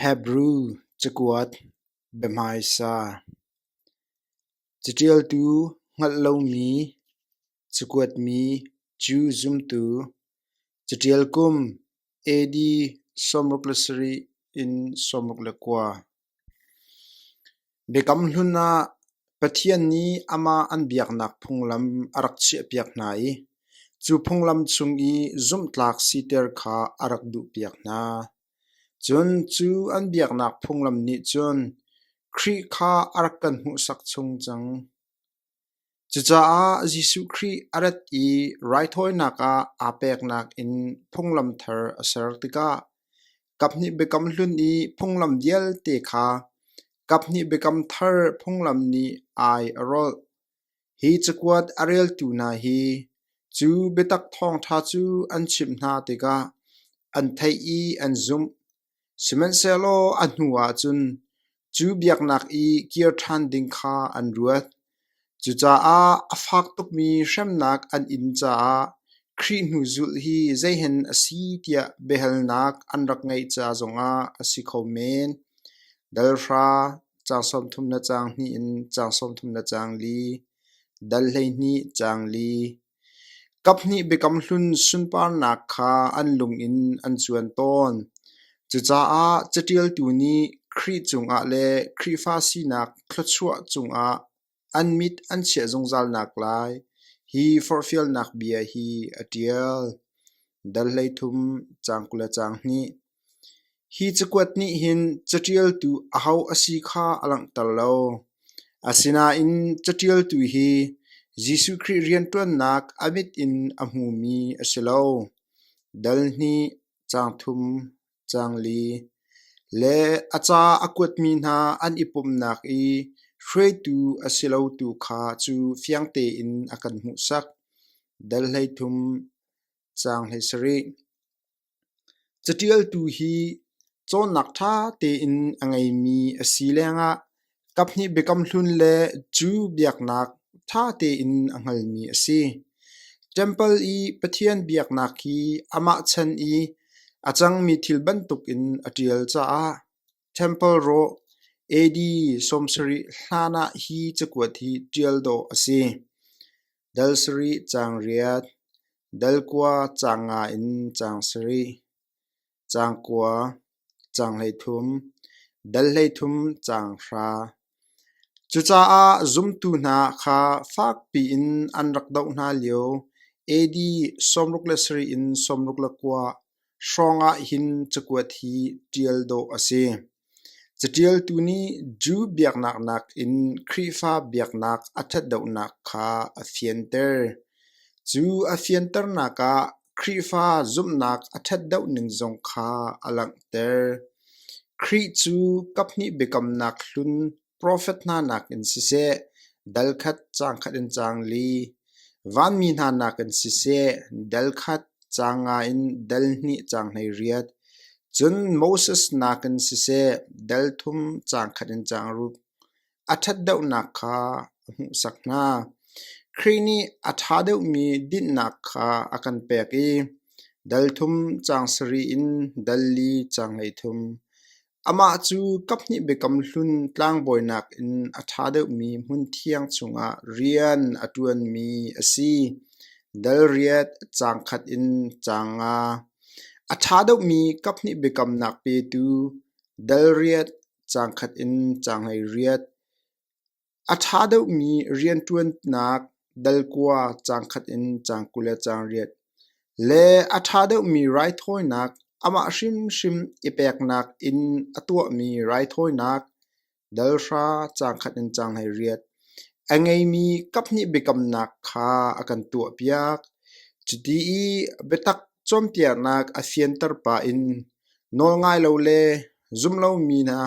Hebrew cakuat biahmaisa Caṭialtu hngalh lomi cakuatmi cu zumtu caṭial kum AD sawmruk le sarih in sawmruk le kua. Biakam hlun ah Pathian nih amah an biaknak phunglam a rak chiahpiak hna i cu phunglam chung i zumhtlak siter kha a rak duhpiak hna. Cun cu an biaknak phunglam nih cun Khrih kha a rak kan hmuhsak chung cang. Cucaah Jesuh Khrih a rat i raithawinak ah aa peknak in phunglam thar a ser tikah kaphnih biakam hlun i phunglam vialte kha kaphnih biakam thar phunglam nih ai a rolh. Hi cakuat a reltu hna hi cu biatak thawngṭha cu an chimh hna tikah an theih i an zumh. Sihmanhsehlaw a hnu ahcun cu biaknak i kir ṭhan ding kha an ruat. Cucaah a fak tukmi hremnak an in caah Khrih hnuzulh hi zeihen a si tiah biahalnak an rak ngeih ca zongah a si kho men. Dal hra, caang sawmthum le caang hnih in caang sawmthum le caang li, dal hleihnih caang li, Kaphnih Biakam Hlun sunparnak kha an lung in an cuan tawn. Cucaah caṭialtu nih Khrih cungah le Khrihfa sinak thluachuah cungah an mit an chiah zungzalnak lai hi forhfialnak bia hi a ṭial. Dal hleithum, caang kul le caang hnih. Hi cakuat nih hin caṭialtu aho a si kha a langhter lo, asinain caṭialtu hi Jesuh Khrih rianṭuannak a mit in a hmumi a si lo, dal hnih, caang thum, caang li, le a ca a kuatmi hna an i pumhnak i hruaitu a si lo tu kha cu fiang tein a kan hmuhsak, dal hleithum, caang hleisarih. Caṭialtu hi cawnnak ṭha tein a ngeimi a si lengah kaphnih biakam hlun le Jew biaknak ṭha tein a hngalmi a si. Temple i Pathian biaknak hi amah chan i a cangmi thil bantukin a ṭial caah Temple rawh, AD sawmsarih hlan ah hi cakuat hi ṭial dawh a si: dal sarih caang riat, dal kua caang nga in caang sarih, caang kua, caang hleithum, dal hleithum caang hra, Cucaah zumtu hna kha fakpi in an rak doh hna lio AD sawmruk le sarih in sawmruk le kua hrawng ah hin cakuat hi ṭial dawh a si. Caṭialtu nih Jew biaknak nakin Khrihfa biaknak a ṭhatdohnak kha a fianter. Cu a fianternak ah Khrihfa zumhnak a ṭhat deuh ning zong kha a langhter. Khrih cu kaphnih biakamnak hlun profet hna nakin siseh, dal khat caang khat in caang li, vanmi hna nakin siseh, dal khat caang nga in dal hnih caang hlei riat, cun Moses nakin siseh, dal thum caang khat in caang rup. a ṭhatdeuhnak kha a hmuhsak hna. Khrih nih a ṭha deuhmi dinhnak kha a kan pek i dal thum caang sarih in dal li caang hleithum. Amah cu kaphnih biakam hlun tlangbawinak in a ṭha deuhmi hmun thiang chungah rian a ṭuanmi a si. Dal riat caang khat in caang nga. A ṭha deuhmi kaphnih biakamnak petu dal riat Caang khat in caanghei riat. A ṭha deuhmi rianṭuannak dalkua caang khat in caang kul le caang riat. Le a ṭha deuhmi raithawinak amah hrimhrim i peknak in a tuahmi raithawinak dalhra caang khat in caanghei riat. A ngeimi kaphnih biakamnak kha a kan tuahpiak. Cuti i biatak cawnpiaknak a fianter pah in nawlngai lo le zum lomi hna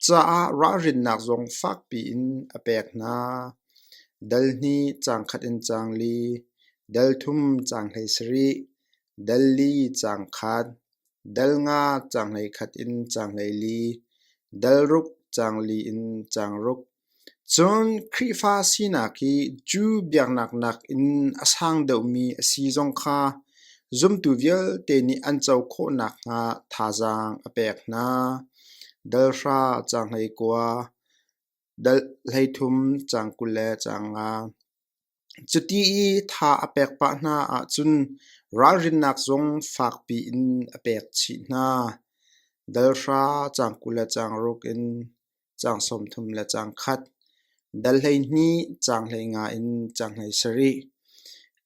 caah ralrinnak zong fakpi in a pek hna. Dal hnih caang khat in caang li, dal thum caang hlei sarih, dal li caang khat, dal nga caang hlei khat in caang hlei li, dal ruk caang li in caang ruk, Cun Khrihfa sinak hi Jew biaknak nakin a sang deuhmi a si zong kha zumtu vialte nih an co khawh nakhnga thazaang a pek hna. Dal hra caang hleikua, dal hleithum caang kul le caang nga. Cuti i tha a pek pah hna ahcun ralrinnak zong fakpi in a pek chih hna. Dal hra caang kul le caang ruk in caang sawmthum le caang khat, dal hleihnih caang hleinga in caang hleisarih.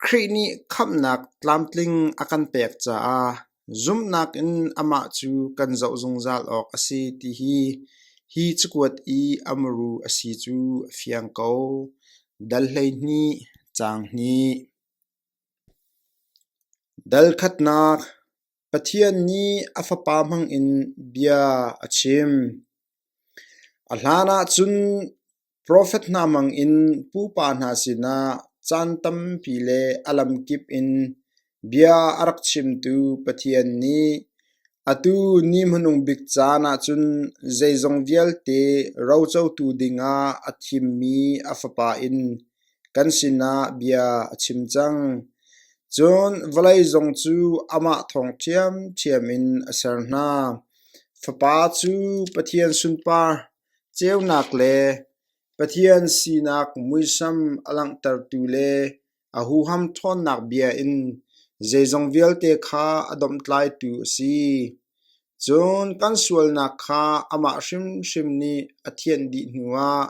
Khrih nih khamhnak tlamtling a kan pek caah Zumhnak in amah cu kan zoh zungzal awk a si ti hi hi cakuat i a muru a si cu a fiang ko. Dal hleihnih, caang hnih. Dal khatnak Pathian nih a Fapa hmangin bia a chim. A hlanah cun Profet hna hmangin pupa hna sinah caan tampi le a lamkip in bia a rak chimtu Pathian nih atu ni hmanung bik caan ah cun zeizong vialte rocotu dingah a thimmi a Fapa in kan sinah bia a chim cang. Cun vawlei zong cu amah thawng ṭhiamṭhiam in a ser hna. Fapa cu Pathian sunpar Ceunak le Pathian sinak muisam a langhtertu le a huham ṭhawnnak bia in zeizong vialte kha a domhtlaitu a si. Cun kan sualnak kha amah hrimhrim nih a thianh dih hnuah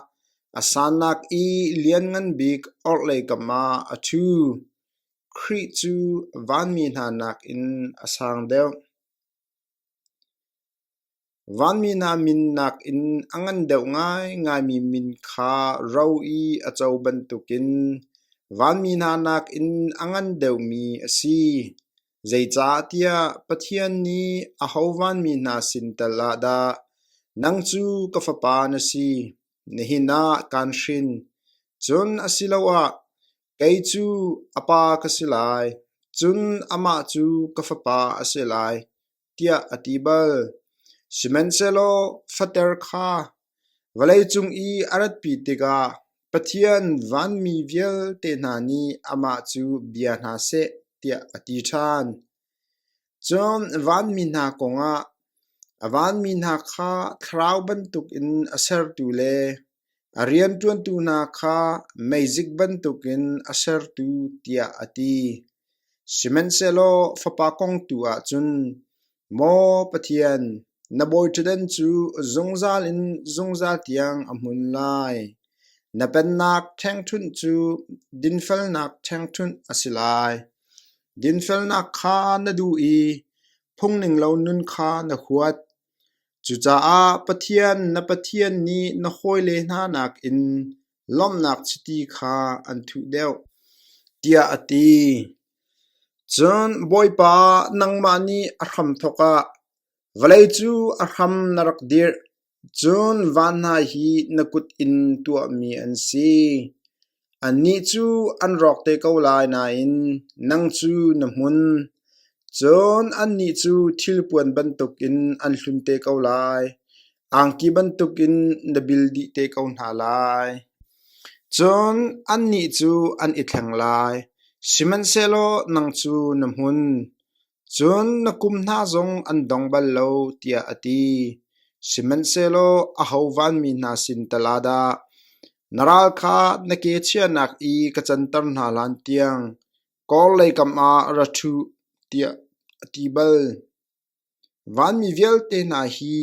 a sannak i Lianngan Bik orhlei kamah a ṭhu. Khrih cu vanmi hna nakin a sang deuh. Vanmi hna min nakin a ngan deuh ngaingaimi min kha ro i a co bantukin vanmi hna nakin a ngan deuhmi a si. Zeicahtiah Pathian nih aho vanmi hna sin tal ah dah nang cu ka fapa na si, nihin ah kaan hrin? Cun asiloah, kei cu a pa ka si lai, cun amah cu ka fapa a si lai. tiah a ti bal. Sihmanhsehlaw fater kha vawleicung i a ratpi tikah Pathian vanmi vialte hna nih amah cu bia hna seh tiah a ti ṭhan. Cun vanmi hna kongah a vanmi hna kha thlarau bantukin a sertu le A rianṭuantu hna kha meizik bantukin a sertu tiah a ti. Sihmanhsehlaw fapa kong tu ahcun, Maw Pathian, na bawiṭhutdan cu zungzal in zungzal tiang a hmun lai. Na pennak ṭhengṭhunh cu dinfelnak ṭhengṭhunh a si lai. Dinfelnak kha na duh i phungninglo nun kha na huat. Cucaah Pathian na Pathian nih na hawile hna nakin lawmhnak chiti kha an thuh deuh, tiah a ti. Cun Bawipa, nangmah nih a hramthawk ah vawlei cu a hram na rak dirh, cun van hna hi na kut in tuahmi an si. Annih cu an rawk te ko lai nain nang cu na hmun, cun annih cu thilpuan bantukin an hlun te ko lai; angki bantukin na bil dih te ko hna lai. Cun annih cu an i thleng lai; sihmanhsehlaw nang cu na hmun, Cun na kum hna zong an dong bal lo, tiah a ti. Sihmanhsehlaw aho vanmi hna sin tal ah dah na ral kha na ke chiahnak i ka canter hna hlan tiang kawrlei kam ah ra ṭhuh, tiah a ti bal. Vanmi vialte hna hi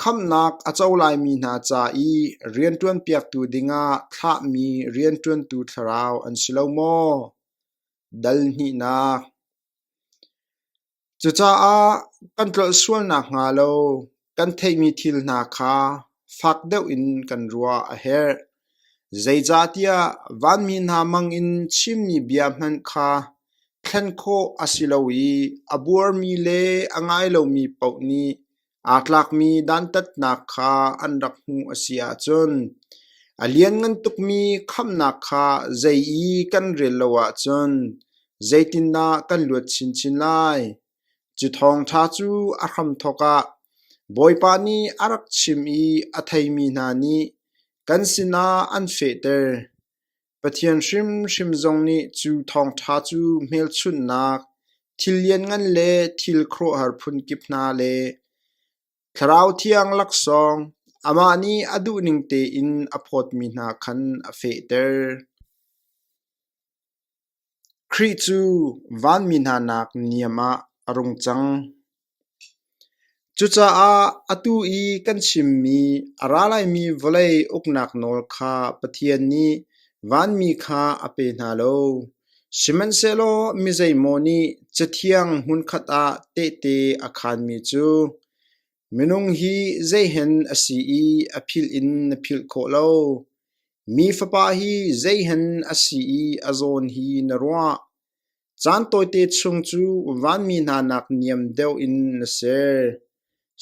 khamhnak a co laimi hna ca i rianṭuanpiaktu dingah thlahmi rianṭuantu thlarau an si lo maw? Dal hnihnak Cucaah kan tlolh sual nakhnga lo kan theihmi thil hna kha fak deuh in kan ruah a herh. Zeicahtiah vanmi hna mangin chimmi bia hmanh kha thlen khawh a si lo i a buarmi le a ngai lomi paoh nih aa tlakmi dantatnak kha an rak hmuh a si ahcun a lianngan tukmi khamhnak kha zei i kan rel lo ahcun zeitindah kan luat chinchin lai? Cu thawngṭha cu a hramthawk ah Bawipa nih a rak chim i a theimi hna nih kan sinah an fehter. Pathian hrimhrim zong nih cu thawngṭha cu hmelchunhnak, thil lianngan le thil khuaruahhar phunkip hna le Thlarau Thiang laksawng, amah nih a duhning tein a phawtmi hna khan a fehter. Khrih cu vanmi hnanak niam ah a rung cang. Cucaah atu i kan chimmi a ra laimi vawlei uknak nawl kha Pathian nih vanmi kha a pe hna lo, sihmanhsehlaw mi zeimaw nih Cathiang hmunkhat ah tehte a khaanmi cu Minung hi zeihen a si i a philh in na philh khawh lo. Mi fapa hi zeihen a si i a zawn hi na ruah. Caan tawite chung cu vanmi hna nak niam deuh in na ser.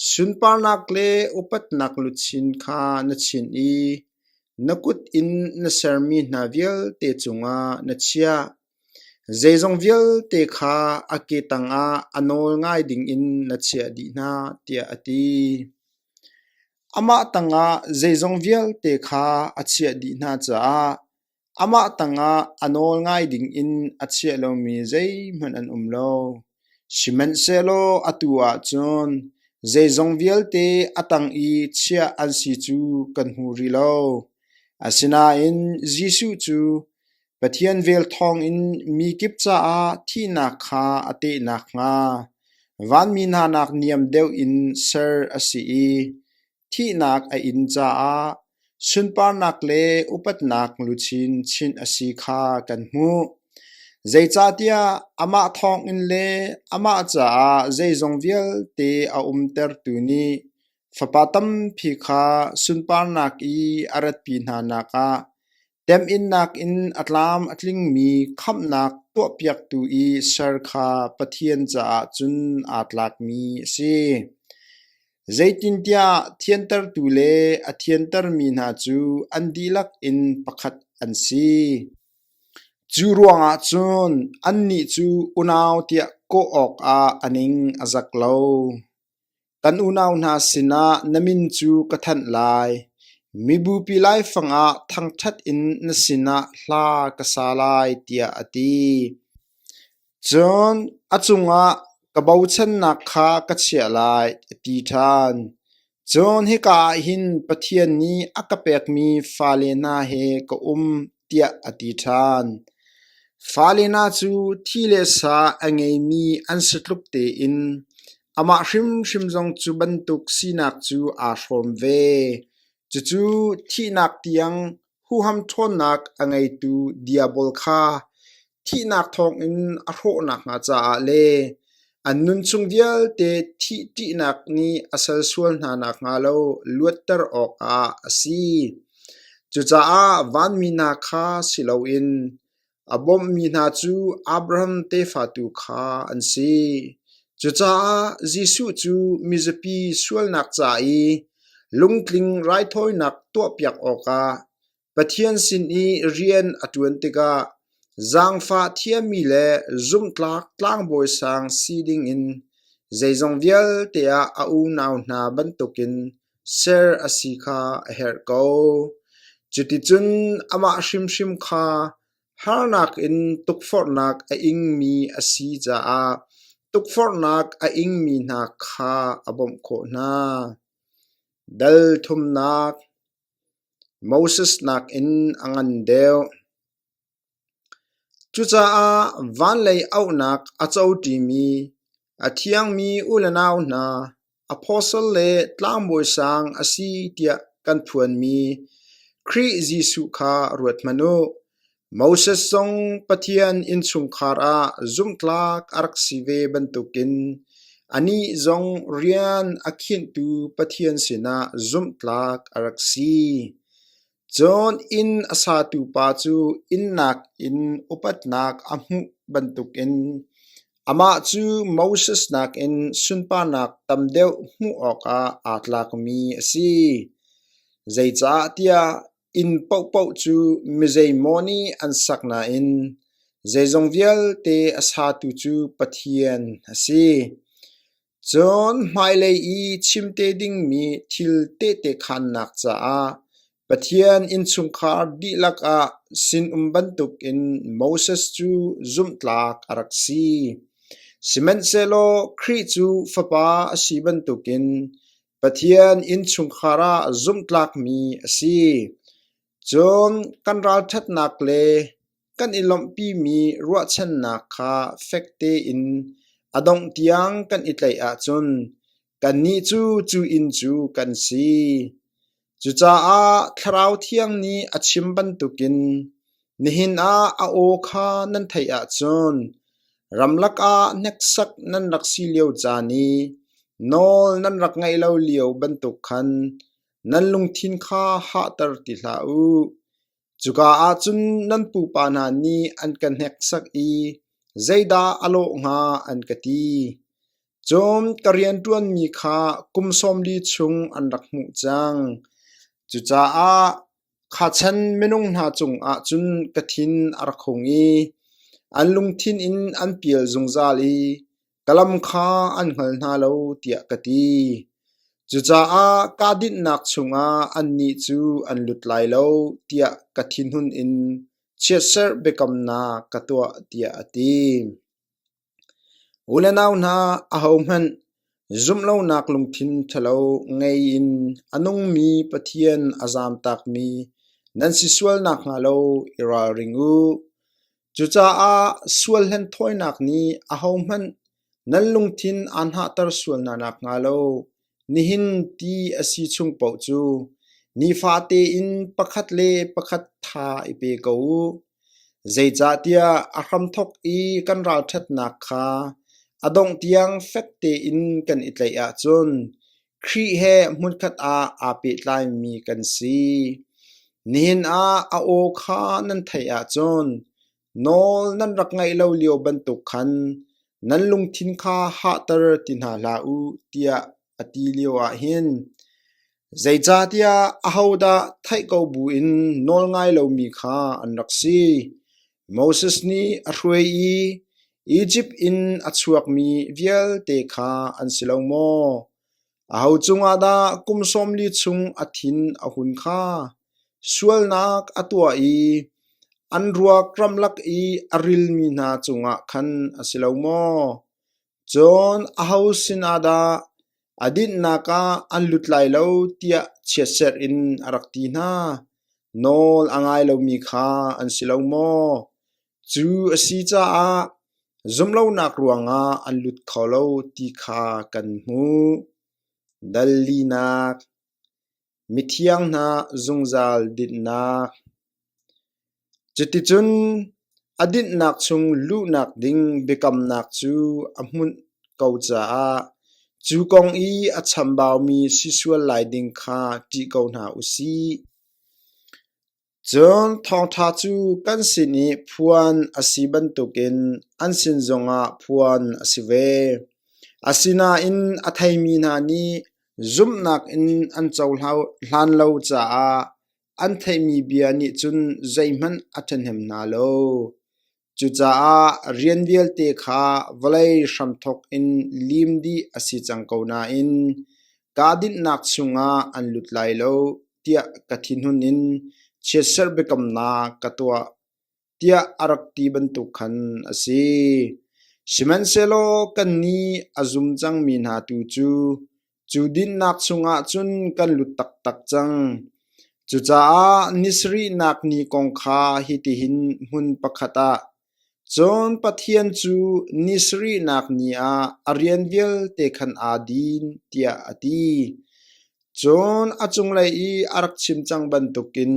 Sunparnak le upatnak luchin kha na chin i na kut in na sermi hna vialte cungah na chiah. Zeizong vialte kha a ke tangah a nawl ngai dingin na chiah dih hna tiah a ti. Amah tangah zeizong vialte kha a chiah dih hna caah amah tangah a nawl ngai dingin a chiah lomi zeihmanh an um lo. Sihmanhsehlaw atu ahcun zeizong vialte a tang i chiah an si cu kan hmu rih lo. Asinain Jesuh cu Pathian vel thawngin mi kip caah thihnak kha a teh nakhnga vanmi hnanak niam deuh in ser a si i thihnak a in caah sunparnak le upatnak luchin chinh a si kha kan hmuh. Zeicahtiah amah thawngin le amah caah zeizong vialte a umtertu nih Fapa tampi kha sunparnak i a ratpi hnanak ah Temhinnak in a tlam a tlingmi khamhnak tuahpiaktu i ser kha Pathian caah cun aa tlakmi a si. Zeitintiah thiantertu le a thiantermi hna cu an dihlak in pakhat an si. Cu ruangah cun annih cu unau tiah kawh awkah a ning a zak lo. Kan unau hna sinah na min cu ka thanh lai; mibupi laifang ah thangṭhat in na sinah hla ka sa lai, tiah a ti. Cun a cungah ka bochannak kha ka chiah lai, a ti ṭhan. Cun hika ah hin Pathian nih a ka pekmi fale hna he ka um. tiah a ti ṭhan. Fale hna cu thi le sa a ngeimi an si tluk tein amah hrimhrim zong cu bantuk sinak cu aa hrawm ve. Cucu thihnak tiang huham ṭhawnnak a ngeitu Diabol kha thihnak thawngin a hrawh nakhnga caah le an nunchung vialte thih ṭihnak nih a sal sual hna nakhnga lo luatter awkah a si. Cucaah vanmi hna kha si loin a bawmhmi hna cu Abraham tefa tu kha an si. Cucaah Jesuh cu mizapi sualnak ca i lungtling raithawinak tuahpiak awkah Pathian sin i rian a ṭuan tikah zaangfah thiammi le zumhtlak tlangbawi sang si dingin zeizong vialte ah a unau hna bantukin ser a si kha a herh ko. Cuticun amah hrimhrim kha harnak in tukforhnak a ingmi a si caah tukforhnak a ingmi hna kha a bawmh khawh hna. Dal thumnak Moses nakin a ngan deuh. Cucaah vanlei auhnak a cotimi, a thiangmi u le nau hna, apostle le tlangbawi sang a si tiah kan phuanmi Khrih Jesuh kha ruat hmanh u. Moses zong Pathian innchungkhar ah zumhtlak a rak si ve bantukin anih zong rian a khinhtu Pathian sinah zumhtlak a rak si. Cun inn a satu pa cu innnak in upatnak a hmuh bantukin amah cu Moses nakin sunparnak tam deuh hmuh awkah aa tlakmi a si. Zeicahtiah Inn paohpaoh cu mizeimaw nih an sak nain zeizong vialte a satu cu Pathian a si. Cun hmailei i chimte dingmi thil tehte khaannak caah Pathian innchungkhar dihlak ah sinum bantukin Moses cu zumhtlak a rak si. Sihmanhsehlaw Khrih cu Fapa a si bantukin Pathian innchungkhar ah zumhtlakmi a si. Cun kan ralṭhatnak le kan i lawmhpimi ruahchannak kha fek tein a dongh tiang kan i tlaih ahcun kannih cu cu inn cu kan si. Cucaah Thlarau Thiang nih a chim bantukin nihin ah a aw kha nan theih ahcun ramlak ah hneksak nan rak si lio caan i nawl nan rak ngaih lo lio bantuk khan nan lungthin kha hahter ti hlah u. Cuka ah cun nan pupa hna nih an ka hneksak i zeidah a lawh hnga an ka ti. Cun ka rianṭuanmi kha kum sawm li chung an rak hmuh cang. Cucaah kha chan minung hna cungah cun ka thin a rak hung i an lungthin in an pial zungzal i ka lam kha an hngal hna lo tiah ka ti. Cucaah kahdohnak chungah annih cu an lut lai lo tiah ka thinhun in chiatserh biakamnak ka tuah tiah a ti. U le nau hna ahohmanh zumhlonak lungthin ṭhalo ngei in a nungmi Pathian a zaam takmi nan si sual nakhnga lo i ralring u. Cucaah sual hlenthawinak nih ahohmanh nan lungthin aa hnahter sual hna nakhnga lo nihin ti a si chung paoh cu nifate in pakhat le pakhat tha i pe ko u. Zeicahtiah a hramthok i kan ralṭhatnak kha a dongh tiang fek tein kan i tlaih ahcun Khrih he hmunkhat ah aa pehtlaimi kan si. Nihin ah a aw kha nan theih ahcun nawl nan rak ngaih lo lio bantuk khan nan lungthin kha hahter ti hna hlah u tiah a ti lio ahhin zeicahtiah ahodah theih ko buin nawl ngai lomi kha an rak si. Moses nih a hruai i Izipt in a chuakmi vialte kha an si lo maw? Aho cungah dah kum sawmli chung a thin a hun kha? Sualnak a tuah i an ruak ramlak i a rilmi hna cungah khan a si lo maw? Cun aho sinah dah A dinhnak ah an lut lai lo tiah chiatserh in a rak ti hna. Nawl a ngai lomi kha an si lo maw? Cu a si caah zumlonak ruangah an lut kho lo ti kha kan hmuh. Dal linak Mithiang hna zungzal dinhnak Cuticun a dinhnak chung luhnak ding biakamnak cu a hmunh ko caah cu kong i a chambaumi si sual lai ding kha ṭih ko hna u sih. Cun thawngṭha cu kan sin i phuan a si bantukin an sin zongah phuan a si ve. Asinain a theimi hna nih zumhnak in an cohlan lo caah an theihmi bia nih cun zeihmanh a ṭhahnem hna lo. Cucaah rian vialte kha vawlei hramthawk in lim dih a si cang ko nain kaa dinhnak chungah an lut lai lo tiah ka thinhun in chiatserh biakamnak ka tuah tiah a rak ti bantuk khan a si. Sihmanhsehlaw kannih a zum cangmi hna tu cu Cu dinnak chungah cun kan lut taktak cang. Cucaah ni sarihnak ni kong kha hitihin hmun pakhat ah, cun Pathian cu ni sarihnak ni ah a rian vialte khan aa din, tiah a ti. Cun a cunglei i a rak chim cang bantukin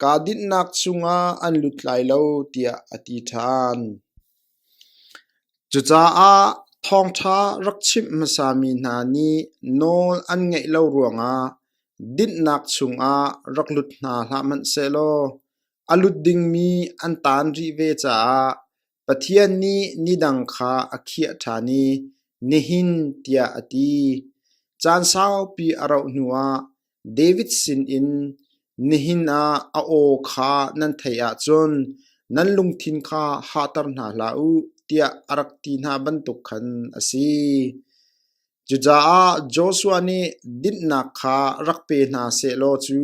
kaa dinnak chungah an lut lai lo, tiah a ti ṭhan. Cucaah thawngṭha rak chimh hmasami hna nih nawl an ngeih lo ruangah dinhnak chungah rak lut hna hlah hmanh sehlaw a lut dingmi an taan rih ve caah Pathian nih nidang kha a khiah ṭhan i nihin tiah a ti. Caan saupi a rauh hnuah David sinin nihin ah a aw kha nan theih ahcun nan lungthin kha hahter hna hlah u tiah a rak ti hna bantuk khan a si. Cucaah Joshua nih dinhnak kha rak pe hna sehlaw cu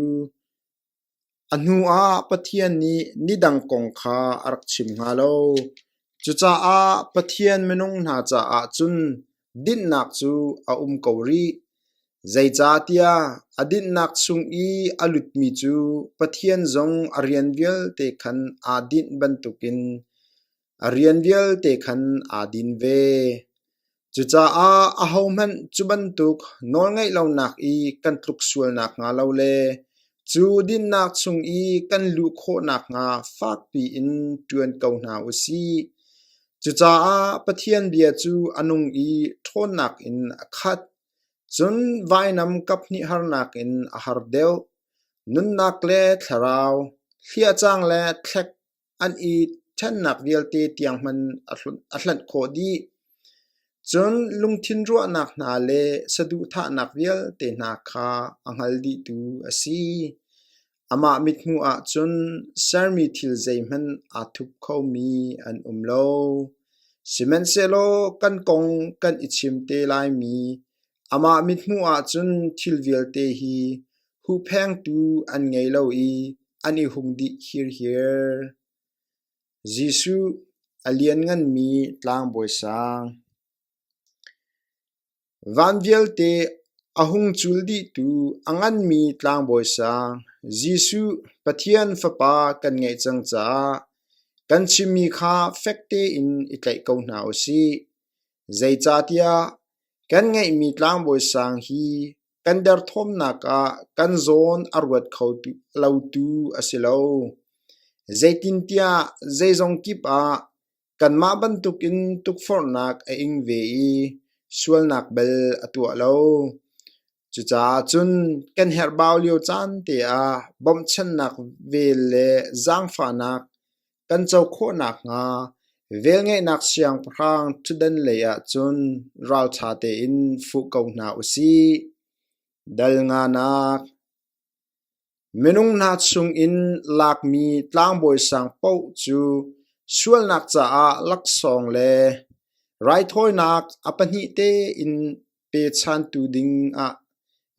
A hnuah Pathian nih nidang kong kha a rak chim hnga lo. Cucaah Pathian minung hna caah cun dinhnak cu a um ko rih. Zeicahtiah a dinhnak chung i a lutmi cu Pathian zong a rian vialte khan aa dinh bantukin A rian vialte khan aa din ve. Cucaah ahohmanh cu bantuk nawlngaih lonak i kan tluk sual nakhnga lo le cu dinnak chung i kan luh khawh nakhnga fakpi in ṭuan ko hna u sih. Cucaah Pathian bia cu a nung i ṭhawnnak in a khat. Cun vainam kaphnih harnak in a har deuh. Nunnak le thlarau, hliahcang le thlek, an i ṭhennak vialte tiang hman a hlanh khawh dih. Cun lungthin ruahnak hna le saduhthahnak vialte hna kha a hngal dihtu a si. Amah mithmuh ah cun sermi thil zeihmanh aa thup khomi an um lo. Sihmanhsehlaw kan kong kan i chim te laimi Amah mithmuh ahcun thil vialte hi huhphengtu an ngei lo i an i hung dih hirhir. Jesuh a Liannganmi Tlangbawi Sang Van vialte a hung cul dihtu a nganmi Tlangbawi Sang, Jesuh Pathian Fapa kan ngeih cang caah kan chimmi kha fek tein i tlaih ko hna u sih. Zeicahtiah Kan ngeihmi tlangbawi sang hi kan derthawmnak ah kan zawn a ruat kho lotu a si lo. Zeitintiah zeizong kip ah kanmah bantukin tukforhnak a ing ve i sualnak bel a tuah lo. Cucaah cun kan herhbau lio caan te ah bawmhchannak vel le zaangfahnak kan co khawh nakhnga velngeihnak siangpahrang ṭhutdan lei ah cun ralṭha tein fuh ko hna u sih. Dal nganak Minung hna chungin lakmi tlangbawi sang paoh cu sualnak caah laksawng le raithawinak a pahnih tein pechantu ding ah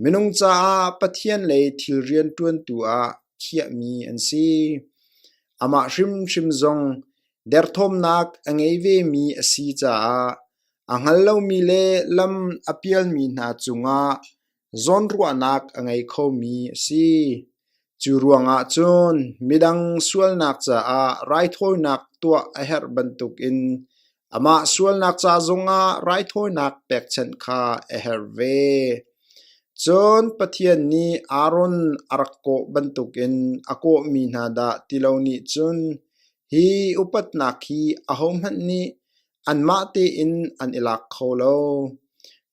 minung caah Pathian le thil rian ṭuantu ah khiahmi an si. Amah hrimhrim zong derthawmnak a ngei vemi a si caah a hngal lomi le lam a pialmi hna cungah zawnruahnak a ngei khomi a si. Cu ruangah cun midang sualnak caah raithawinak tuah a herh bantukin amah sualnak ca zongah raithawinak pekchanh kha a herh ve. Cun Pathian nih Aaron a rak kawh bantukin a kawhmi hna dah ti lo nih cun hi upatnak hi ahohmanh nih anmah tein an i lak kho lo.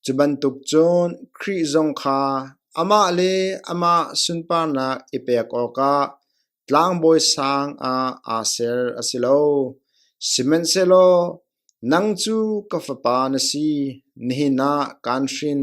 Cu bantuk cun Khrih zong kha amah le amah sunparnak i pek awkah tlangbawi sang ah aa ser a si lo. Sihmanhsehlaw nang cu ka Fapa na si, nihin ah kaan hrin.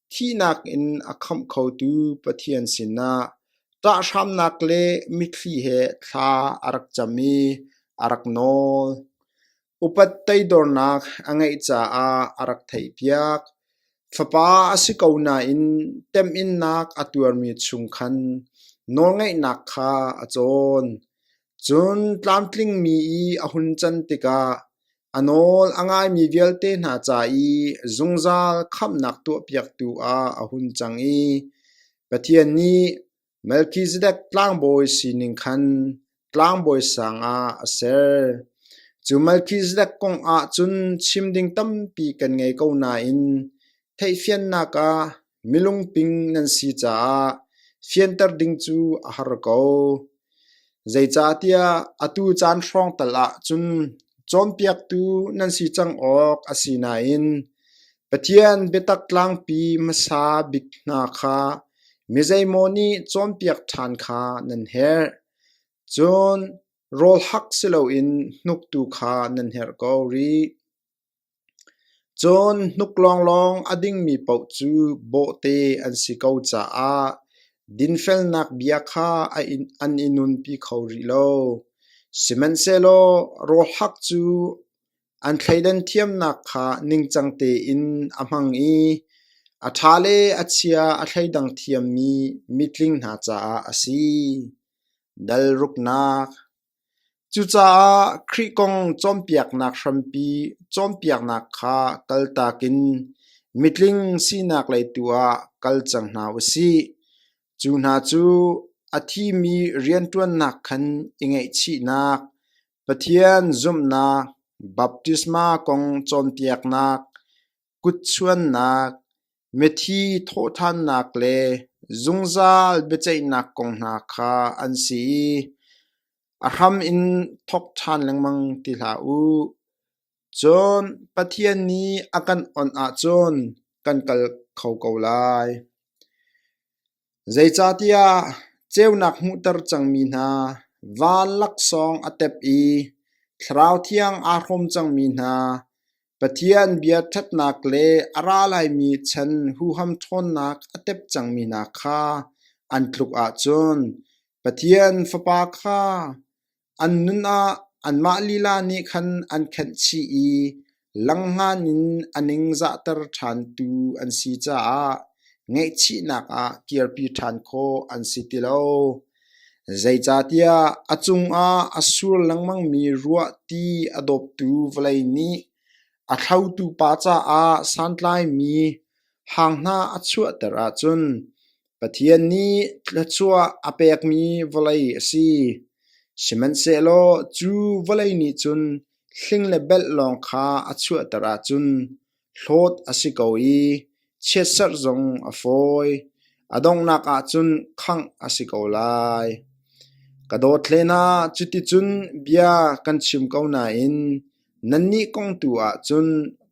thihnak in a khamh khotu Pathian sinah ṭahhramnak le mitthli he thla a rak cam i a rak nawl. Upat teidornak a ngeih caah a rak theihpiak. Fapa a si ko nain temhinnak a tuarmi chung khan nawlngeihnak kha a cawn. Cun tlamtlingmi i a hun can tikah a nawl a ngaimi vialte hna ca i zungzal khamhnak tuahpiaktu ah a hun cang i Pathian nih Melkhizedek tlangbawi sining khan tlangbawi sang ah a ser. Cu Melkhizedek kong ah cun chim ding tampi kan ngei ko nain theihfiannak ah Milungping nan si caah fianter ding cu a har ko. Zeicahtiah atu caan hrawng tal ahcun cawnpiaktu nan si cang awk a si nain Pathian biatak tlangpi hmasa bik hna kha mizeimaw nih cawnpiak ṭhan kha nan herh. Cun rawl hak si loin hnuktu kha nan herh ko rih. Cun hnuk lawnglawng a dingmi paoh cu bawhte an si ko caah dinfelnak bia kha an i nunpi kho rih lo. Sihmanhsehlaw rawlhak cu an thleidan thiamnak kha ningcang tein a hmang i a ṭha le a chia a thleidang thiammi mitling hna caah a si. Dal ruknak Cucaah Khrih kong cawnpiaknak hrampi cawnpiaknak kha kaltak in mitling sinak lei tu ah kal cang hna u sih. Cu hna cu a thimi rianṭuannak khan i ngaihchihnak, Pathian zumhnak, baptisma kong cawnpiaknak, kutchuannak, mithi thawhthannak le zungzal biaceihnak kong hna kha an si i a hram in thawk ṭhan lengmang ti hlah u. Cun Pathian nih a kan awnh ahcun kan kal kho ko lai. Zeicahtiah ceunak hmuhter cangmi hna van laksawng a tep i Thlarau Thiang aa hrawm cangmi hna Pathian bia ṭhatnak le a ra laimi chan huham ṭhawnnak a tep cangmi hna kha an tluk ahcun Pathian Fapa kha An nun ah anmah lila nih khan an khenh chih i langhnan in a ningzahter ṭhantu an si caah ngaihchihnak ah kirpi ṭhan khawh an si ti lo. Zeicahtiah a cungah a sur lengmangmi ruahti a dawptu vawlei nih a thlotu pa caah santlaimi hang hna a chuahter ahcun, Pathian nih thluachuah a pekmi vawlei a si, sihmanhsehlaw cu vawlei nih cun hling le belh lawng kha a chuahter ahcun hlawt a si ko i chiatserh zong a fawi, a donghnak ah cun khangh a si ko lai. Ka dawt hlen ah cuticun bia kan chim ko nain Nannih kong tu ahcun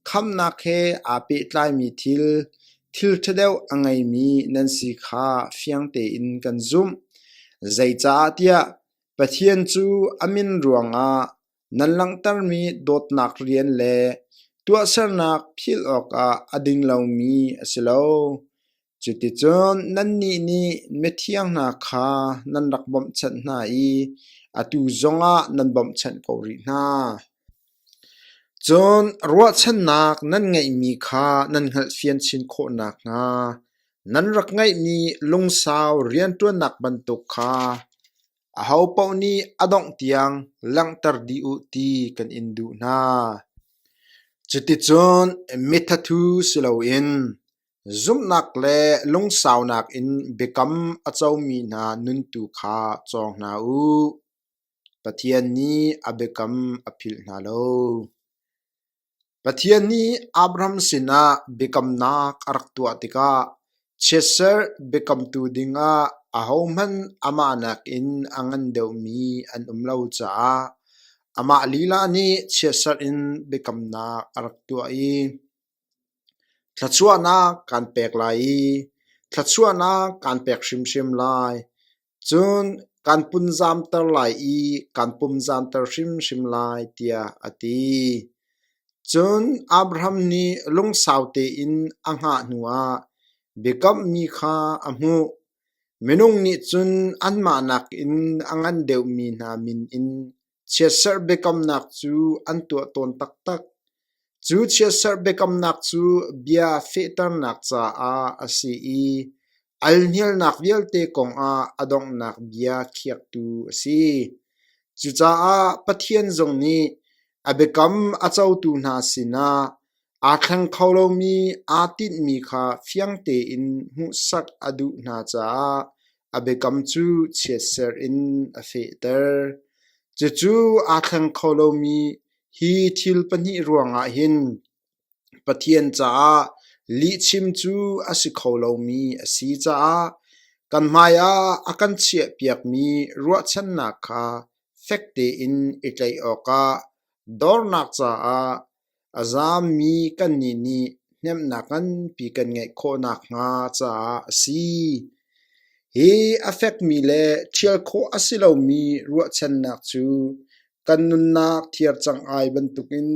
khamnak he aa pehtlaimi thil, thil ṭha deuh a ngeimi nan si kha fiang tein kan zumh. Zeicahtiah Pathian cu a min ruangah nan langhtermi dawtnak rian le tuahsernak philh awkah a ding lomi a si lo. Cuticun nannih nih mithiang hna kha nan rak bawmhchanh hna i atu zongah nan bawmhchanh ko rih hna. Cun ruahchannak nan ngeihmi kha nan hngalhfian chin khawh nakhnga nan rak ngeihmi lungsau rianṭuannak bantuk kha ahopaoh nih a dongh tiang langhter dih u ti kan in duh hna. Cuticun mithathu si loin Zumhnak le lungsaunak in biakam a comi hna nun tu kha cawng hna u. Pathian nih a biakam a philh hna lo. Pathian nih Abraham sinah biakamnak a rak tuah tikah chiatserh biakamtu dingah ahohmanh amah nakin a ngan deuhmi an um lo caah amah lila nih chiatserh in biakamnak a rak tuah i Thluachuahnak kan pek lai i thluachuahnak kan pek hrimhrim lai, cun kan punzamter lai i kan pumzamter hrimhrim lai, tiah a ti. Cun Abraham nih lungsau tein a hngah hnuah biakammi kha a hmuh. Minung nih cun anmah nakin a ngan deuhmi hna min in Chiatserh biakamnak cu an tuah tawn taktak. Cu chiatserh biakamnak cu bia fehternak caah a si i alhnialnak vialte kongah a donghnak bia khiaktu a si. Cucaah Pathian zong nih a biakam a cotu hna sinah Aa thleng kho lomi aa tinhmi kha fiang tein hmuhsak a duh hna caah a biakam cu chiatserh in a fehter. Cucu aa thleng kho lomi hi thil pahnih ruangah hin Pathian caah lihchim cu a si kho lomi a si caah kan hmaiah a kan chiahpiakmi ruahchannak kha fek tein i tlaih awkah dornak caah A zaammi kannih nih hnemhnak nganpi kan ngeih khawh nakhnga caah a si. Hi a fekmi le ṭhial khawh a si lomi ruahchannak cu kan nunnak thiar cang ai bantukin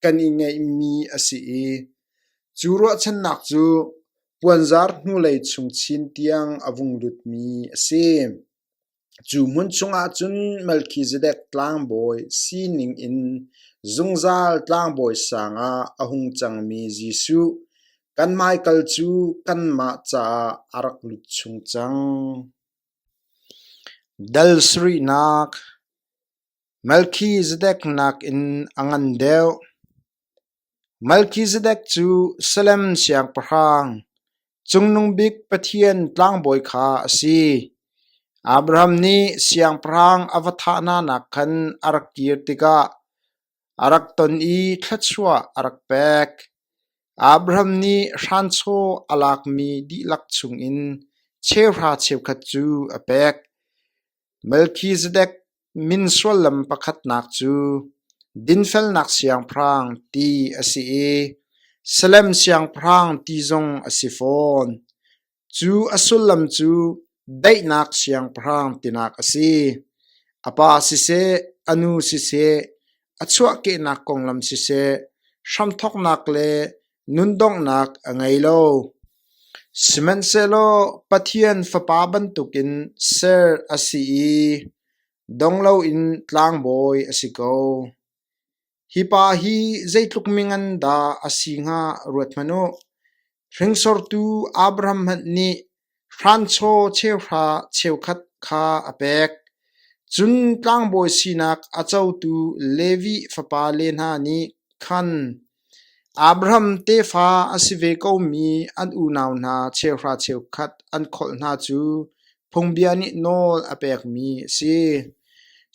kan i ngeihmi a si i cu ruahchannak cu puanzar hnulei chung chin tiang a vung lutmi a si. Cu hmun chungah cun Melkhizedek Tlangbawi sining in zungzal tlangbawi sangah a hung cangmi Jesuh, kan hmaikal cu kanmah caah a rak lut chung cang. Dal sarihnak Melkhizedek nakin a ngan deuh. Melkizedek cu Salem siangpahrang, Cungnung Bik Pathian tlangbawi kha a si. Abraham nih siangpahrang a va thahnanak khan a rak kir tikah a rak ton i thluachuah a rak pek. Abraham nih hranchaw a lakmi dihlak chungin cheuhra cheukhat cu a pek. Melkhizedek min suallam pakhatnak cu dinfelnak siangpahrang ti a si i Salem siangpahrang ti zong a si fawn. Cu a sullam cu daihnak siangpahrang tinak a si. A pa siseh, a nu siseh, a chuahkehnak konglam siseh, hramthawknak le nundonghnak a ngei lo. Sihmanhsehlaw Pathian Fapa bantukin ser a si i dong loin tlangbawi a si ko. Hi pa hi zeitluk mingan dah a si hnga ruat hmanh u. Hringsortu Abraham hmanh nih hranchaw cheuhra cheukhat kha a pek, cun tlangbawi sinak a cotu Levi fapale hna nih khan Abraham tefa a si ve komi an unau hna cheuhra cheukhat an kholh hna cu phungbia nih nawl a pekmi a si.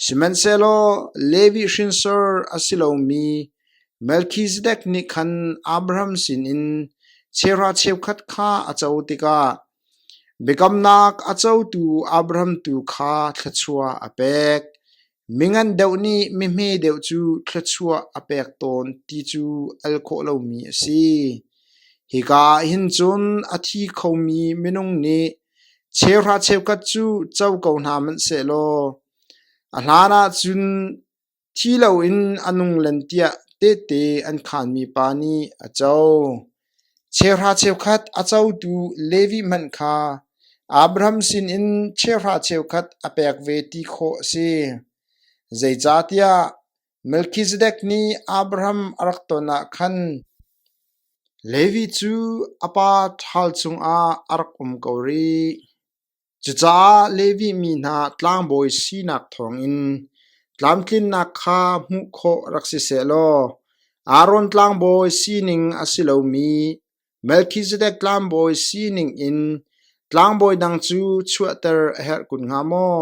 Sihmanhsehlaw Levi hrinsor a si lomi Melkhizedek nih khan Abraham sinin chera cheukhat kha a co tikah biakamnak a cotu Abraham tu kha thluachuah a pek. Mi ngan deuh nih mihme deuh cu thluachuah a pek tawn ti cu al khawh lomi a si. Hika ah hin cun a thi khomi minung nih chera cheukhat cu co ko hna hmanh sehlaw, a hlanah cun Thi loin a nung len tiah tehte an khaanmi pa nih a co. Cheuhra cheukhat a cotu Levi hmanh kha Abraham sinin cheuhra cheukhat a pek ve ti khawh a si. Zeicahtiah Melkhizedek nih Abraham a rak ton ah khan Levi cu a pa ṭhal cungah a rak um ko rih. Cucaah Levi mi hna tlangbawi sinak thawngin tlamtlinnak kha hmuh khawh rak si seh law Aaron tlangbawi sining a si lomi Melkhizedek tlangbawi sining in tlangbawi dang cu chuahter a herh kun hnga maw?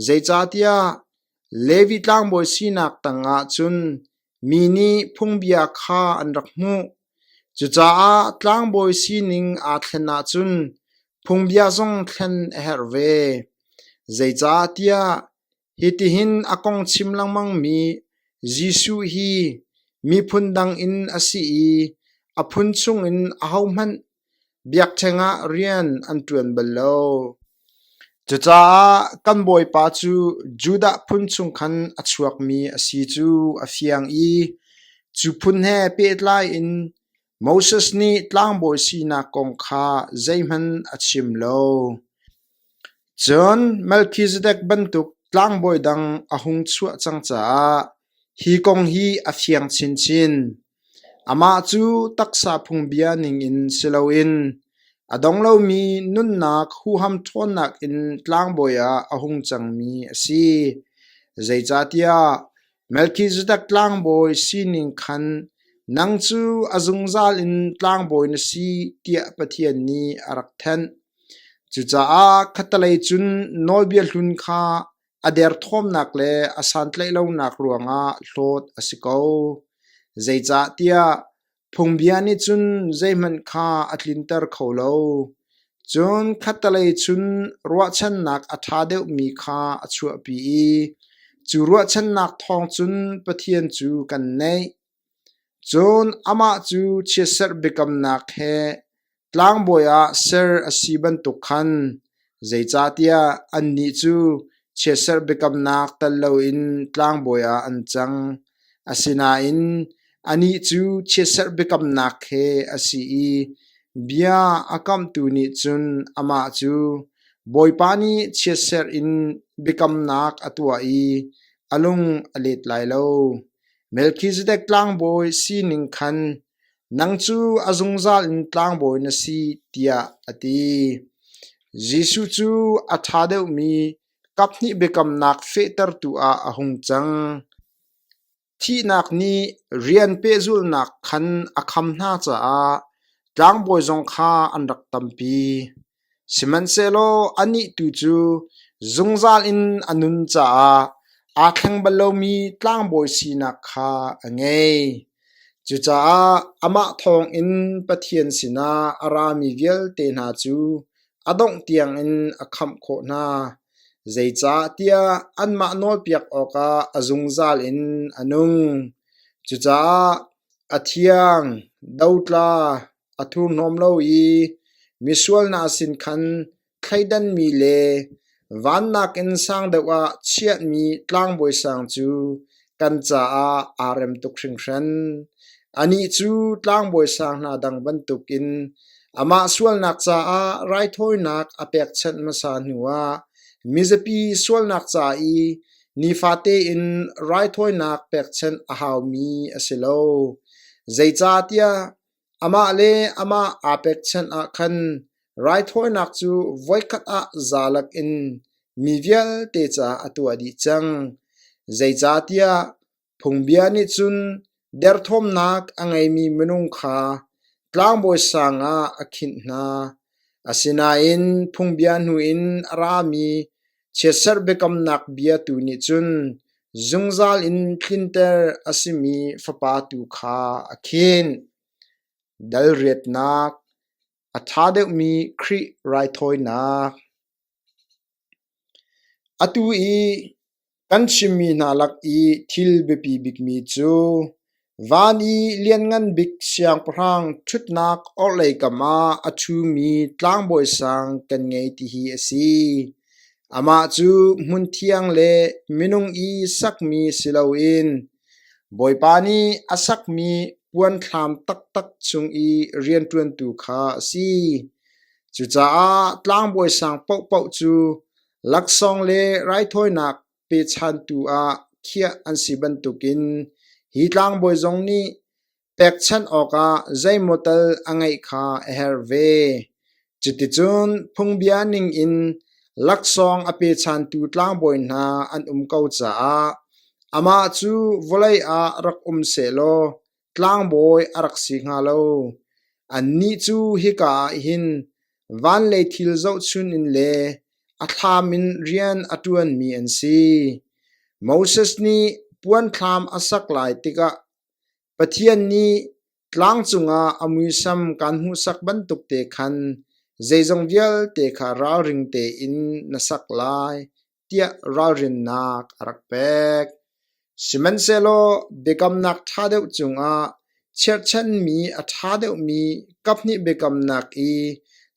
Zeicahtiah Levi tlangbawi sinak tangah cun mi nih phungbia kha an rak hmuh. Cucaah tlangbawi sining aa thlen ahcun phungbia zong thlen a herh ve. Zeicahtiah hitihin a kong chim lengmangmi Jesuh hi miphun dang in a si i a phun chungin ahohmanh Biakṭheng ah rian an ṭuan bal lo. Cucaah kan bawipa cu Judah phun chung khan a chuakmi a si cu a fiang i cu phun he pehtlai in Moses nih tlangbawi sinak kong kha zeihmanh a chim lo. Cun Melkhizedek bantuk tlangbawi dang a hung chuah cang caah hi kong hi a fiang chinchin. Amah cu taksa phungbia ningin si loin a dong lomi nunnak huham ṭhawnnak in tlangbawi ah a hung cangmi a si. Zeicahtiah Melkhizedek tlangbawi sining khan nang cu a zungzal in tlangbawi na si tiah Pathian nih a rak thenh. Cucaah khattelei cun nawlbia hlun kha A derthawmnak le a santlaihlonak ruangah hlawt a si ko. Zeicahtiah phungbia nih cun zeihmanh kha a tlinter kho lo. Cun khattelei chun ruahchannak a ṭha deuhmi kha a chuahpi i cu ruahchannak thawng cun Pathian cu kan neih. Cun amah cu chiatserh biakamnak he tlangbawi ah ser a si bantuk khan zeicahtiah annih cu chiatserh biakamnak tel loin tlangbawi ah an cang. Asinain anih cu chiatserh biakamnak he a si i bia a kamhtu nih cun amah cu, “Bawipa nih chiatserh in biakamnak a tuah i a lung a let lai lo. Melkhizedek tlangbawi sining khan nang cu a zungzal in tlangbawi na si tiah a ti. Jesuh cu a ṭha deuhmi kaphnih biakamnak fehtertu ah a hung cang. Thihnak nih rian pehzulhnak khan a kham hna caah tlangbawi zong kha an rak tampi. Sihmanhsehlaw anih tu cu zungzal in a nun caah aa thleng bal lomi tlangbawi sinak kha a ngei. Cucaah amah thawngin Pathian sinah a rami vialte hna cu a dongh tiangin a khamh khawh hna, zeicahtiah anmah nawlpiak awkah a zungzal in a nung. Cucaah a thiang, dotla, A thurhnawm lo i misual hna sin khan thleidanmi le vannak in sang deuh ah chiahmi tlangbawi sang cu kan caah aa rem tuk hringhran. Anih cu tlangbawi sang hna dang bantukin amah sualnak caah raithawinak a pekchanh hmasa hnuah mizapi sualnak ca i nifate in raithawinak pekchanh a haumi a si lo. Zeicahtiah Amah le amah aa pekchanh ah khan raithawinak cu voikhat ah zalak in mi vialte caah a tuah dih cang, zeicahtiah phungbia nih cun derthawmnak a ngeimi minung kha tlangbawi sang ah a khinh hna. Asinain phungbia hnu in a rami Chiatserh biakamnak bia tu nih cun zungzal in tlinter a simi fapa tu kha a khinh. Dalriatnak, a ṭha deuhmi Khrih raithawinak. Atu i kan chimmi hna lak i thil biapi bikmi cu Van i Lianngan Bik siangpahrang ṭhutnak orhlei kam ah a ṭhumi tlangbawi sang kan ngei tihi a si. Amah cu hmunthiang le minung i sakmi si loin Bawipa nih a sakmi puanthlam taktak cung i rianṭuantu kha a si. Cucaah tlangbawi sang paohpaoh cu laksawng le raithawinak pechantu ah khiah an si bantukin hi tlangbawi zong nih pekchanh awkah zeimaw tal a ngeih kha a herh ve. Cuticun phungbia ningin laksawng a pechantu tlangbawi hna an um ko caah amah cu vawlei ah rak um sehlaw Tlangbawi a rak si hnga lo, annih cu hika ah hin van le thil zohchun in le a thlam in rian a ṭuanmi an si. Moses nih puanthlam a sak lai tikah Pathian nih tlang cungah a muisam kaan hmuhsak bantukte khan zeizong vialte kha ralring tein na sak lai, tiah ralrinnak a rak pek. Sihmanhsehlaw biakamnak ṭha deuh cungah cherhchanmi a ṭha deuhmi kaphnih biakamnak i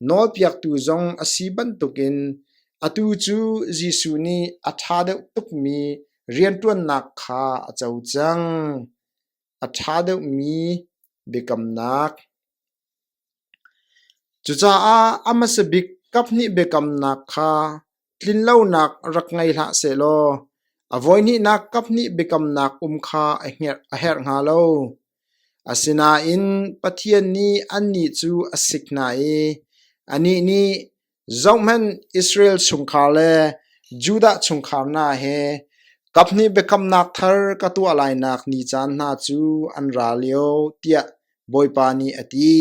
nawlpiaktu zong a si bantukin atu cu Jesuh nih a ṭha deuh tukmi rianṭuannak kha a co cang. A ṭha deuhmi biakamnak Cucaah a hmasa bik kaphnih biakamnak kha tlinlonak rak ngei hlah sehlaw a voihnihnak kaphnih biakamnak um kha a herh hnga lo. Asinain Pathian nih annih cu a sik hna i anih nih Zohhmanh, Israel chungkhar le Judah chungkhar hna he kaphnih biakamnak thar ka tuah lainak ni caan hna cu an ra lio, tiah Bawipa nih a ti.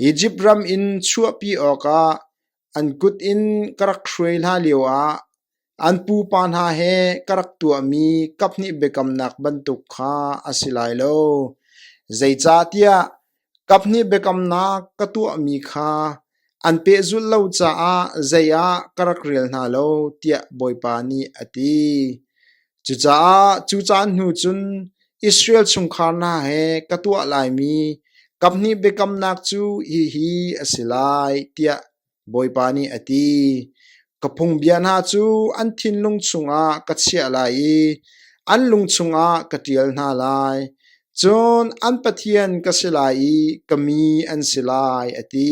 Izipt ram in chuahpi awkah an kut in ka rak hruai hna lioah An pupa hna he ka rak tuahmi kaphnih biakamnak bantuk kha a si lai lo, zeicahtiah kaphnih biakamnak ka tuahmi kha an pehzulh lo caah zei ah ka rak rel hna lo, tiah Bawipa nih a ti. Cucaah cu caan hnu cun Israel chungkhar hna he ka tuah laimi kaphnih biakamnak cu hihi a si lai, tiah Bawipa nih a ti, Ka phungbia hna cu an thinlung chungah ka chiah lai i an lung chungah ka ṭial hna lai. Cun an pathian ka si lai i ka mi an si lai, a ti.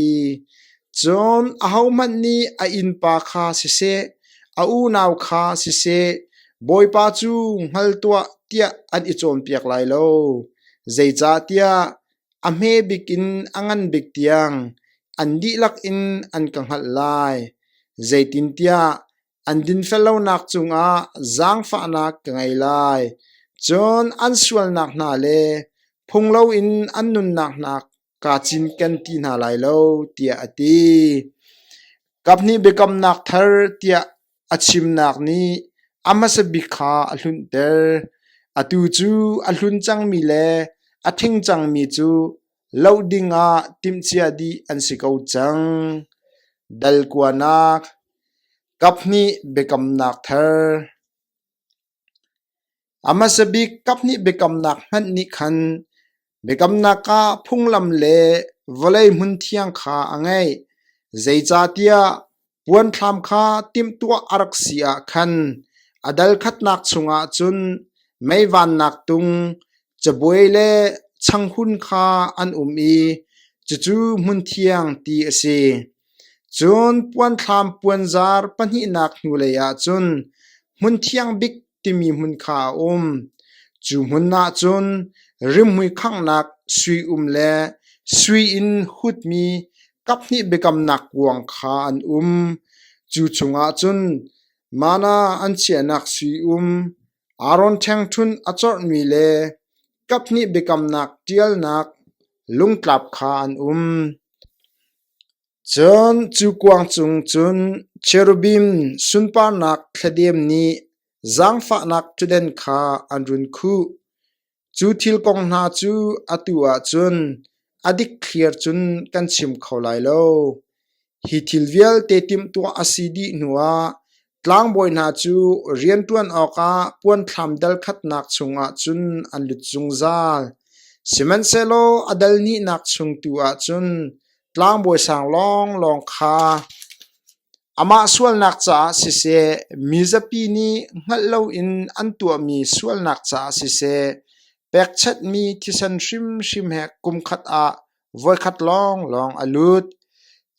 Cun ahohmanh nih a innpa kha siseh, a unau kha siseh, Bawipa cu hngal tuah tiah an i cawnpiak lai lo. Zeicahtiah A hme bik in a ngan bik tiang an dihlak in an ka hngalh lai, zeitintiah an dinfellonak cungah zaangfahnak ka ngei lai. Cun an sualnak hna le phung loin an nunnak hna kaa cinken ti hna lai lo, tiah a ti. Kaphnih biakamnak thar tiah A chimnak nih a hmasa bik kha a hlunter, atu cu a hlun cangmi le a thing cangmi cu loh dingah timhcia dih an si ko cang. Dal kuanak, kaphnih biakamnak thar. A hmasa bik kaphnih biakamnak hmanh nih khan biakamnak ah phunglam le vawlei hmunthiang kha a ngeih, zeicahtiah puanthlam kha timhtuah a rak si ah khan a dal khatnak chungah cun mei vannak tung, Cabuai le changhun kha an um i cucu hmunthiang ti a si. Cun puanthlam puanzar pahnihnak hnulei ah cun hmunthiang bik timi hmun kha a um. Cu hmun ah cun rimhmui khanghnak sui-um le sui in hutmi kaphnih biakamnak kuang kha an um. Cu chungah cun manna an chiahnak sui-um, Aaron ṭhengṭhunh a corhmi le kaphnih biakamnak ṭialnak lungtlap kha an um. Cun cu kuang cung cun cherubim sunparnak thladem nih zaangfahnak ṭudan kha an run khuh. Cu thil kong hna cu atu ahcun a dikthliar cun kan chim kho lai lo. Hi thil vialte timhtuah a si dih hnuah tlangbawi hna cu rianṭuan awkah puanthlam dal khatnak chungah cun an lut zungzal. Sihmanhsehlaw a dal nihnak chung tu ah cun tlangbawi sang lawnglawng kha Amah sualnak caah siseh, mizapi nih hngalh loin an tuahmi sualnak caah siseh, pekchanhmi thisen hrimhrim he kumkhat ah voikhat lawnglawng a lut.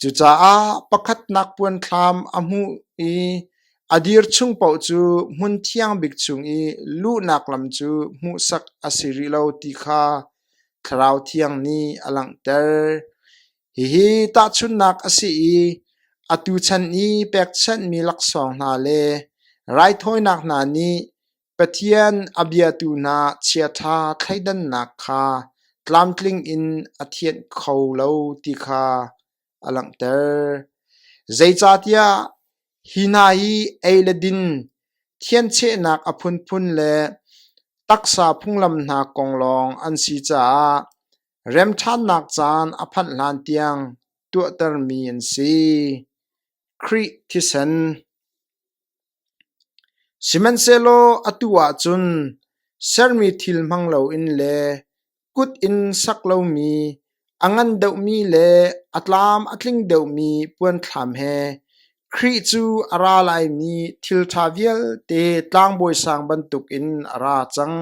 Cucaah pakhatnak puanthlam a hmuh i a dir chung paoh cu hmun thiang bik chung i luhnak lam cu hmuhsak a si rih lo ti kha Thlarau Thiang nih a langhter. Hihi tahchunhnak a si i atu chan i pekchanhmi laksawng hna le raithawinak hna nih Pathian a biatu hna chiaṭha thleidannak kha tlamtling in a thianh kho lo ti kha a langhter. Zeicahtiah hi hna hi ei le din, thianchehnak a phunphun le taksa phunglam hna kong lawng an si caah Remṭhannak caan a phanh hlan tiang tuahtermi an si. Khrih thisen Sihmanhsehlaw atu ahcun sermi thil hmang loin le kut in sak lomi, a ngan deuhmi le a tlam a tling deuhmi puanthlam he Khrih cu a ra laimi thil ṭha vialte tlangbawi sang bantukin a ra cang.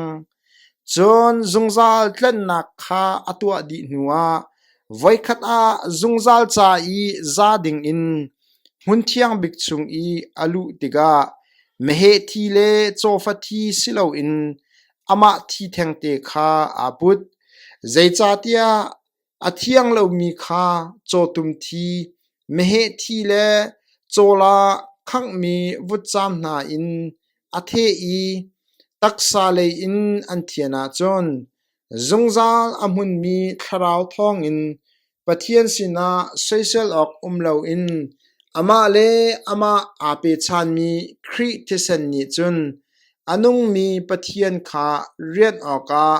Cun zungzal tlanhnak kha a tuah dih hnuah voikhat ah zungzal ca i za dingin hmunthiang bik chung i a luh tikah meheh thi le cawfa thi si loin amah thi thengte kha aa put, zeicahtiah A thiang lomi kha cawtum thi, meheh thi le cawl ah khanghmi vutcaam hna in a theh i taksa lei in an thian ahcun zungzal a hmunmi thlarau thawngin Pathian sinah soisel awk um loin amah le amah aa pechanmi Khrih thisen nih cun a nungmi Pathian kha rianh awkah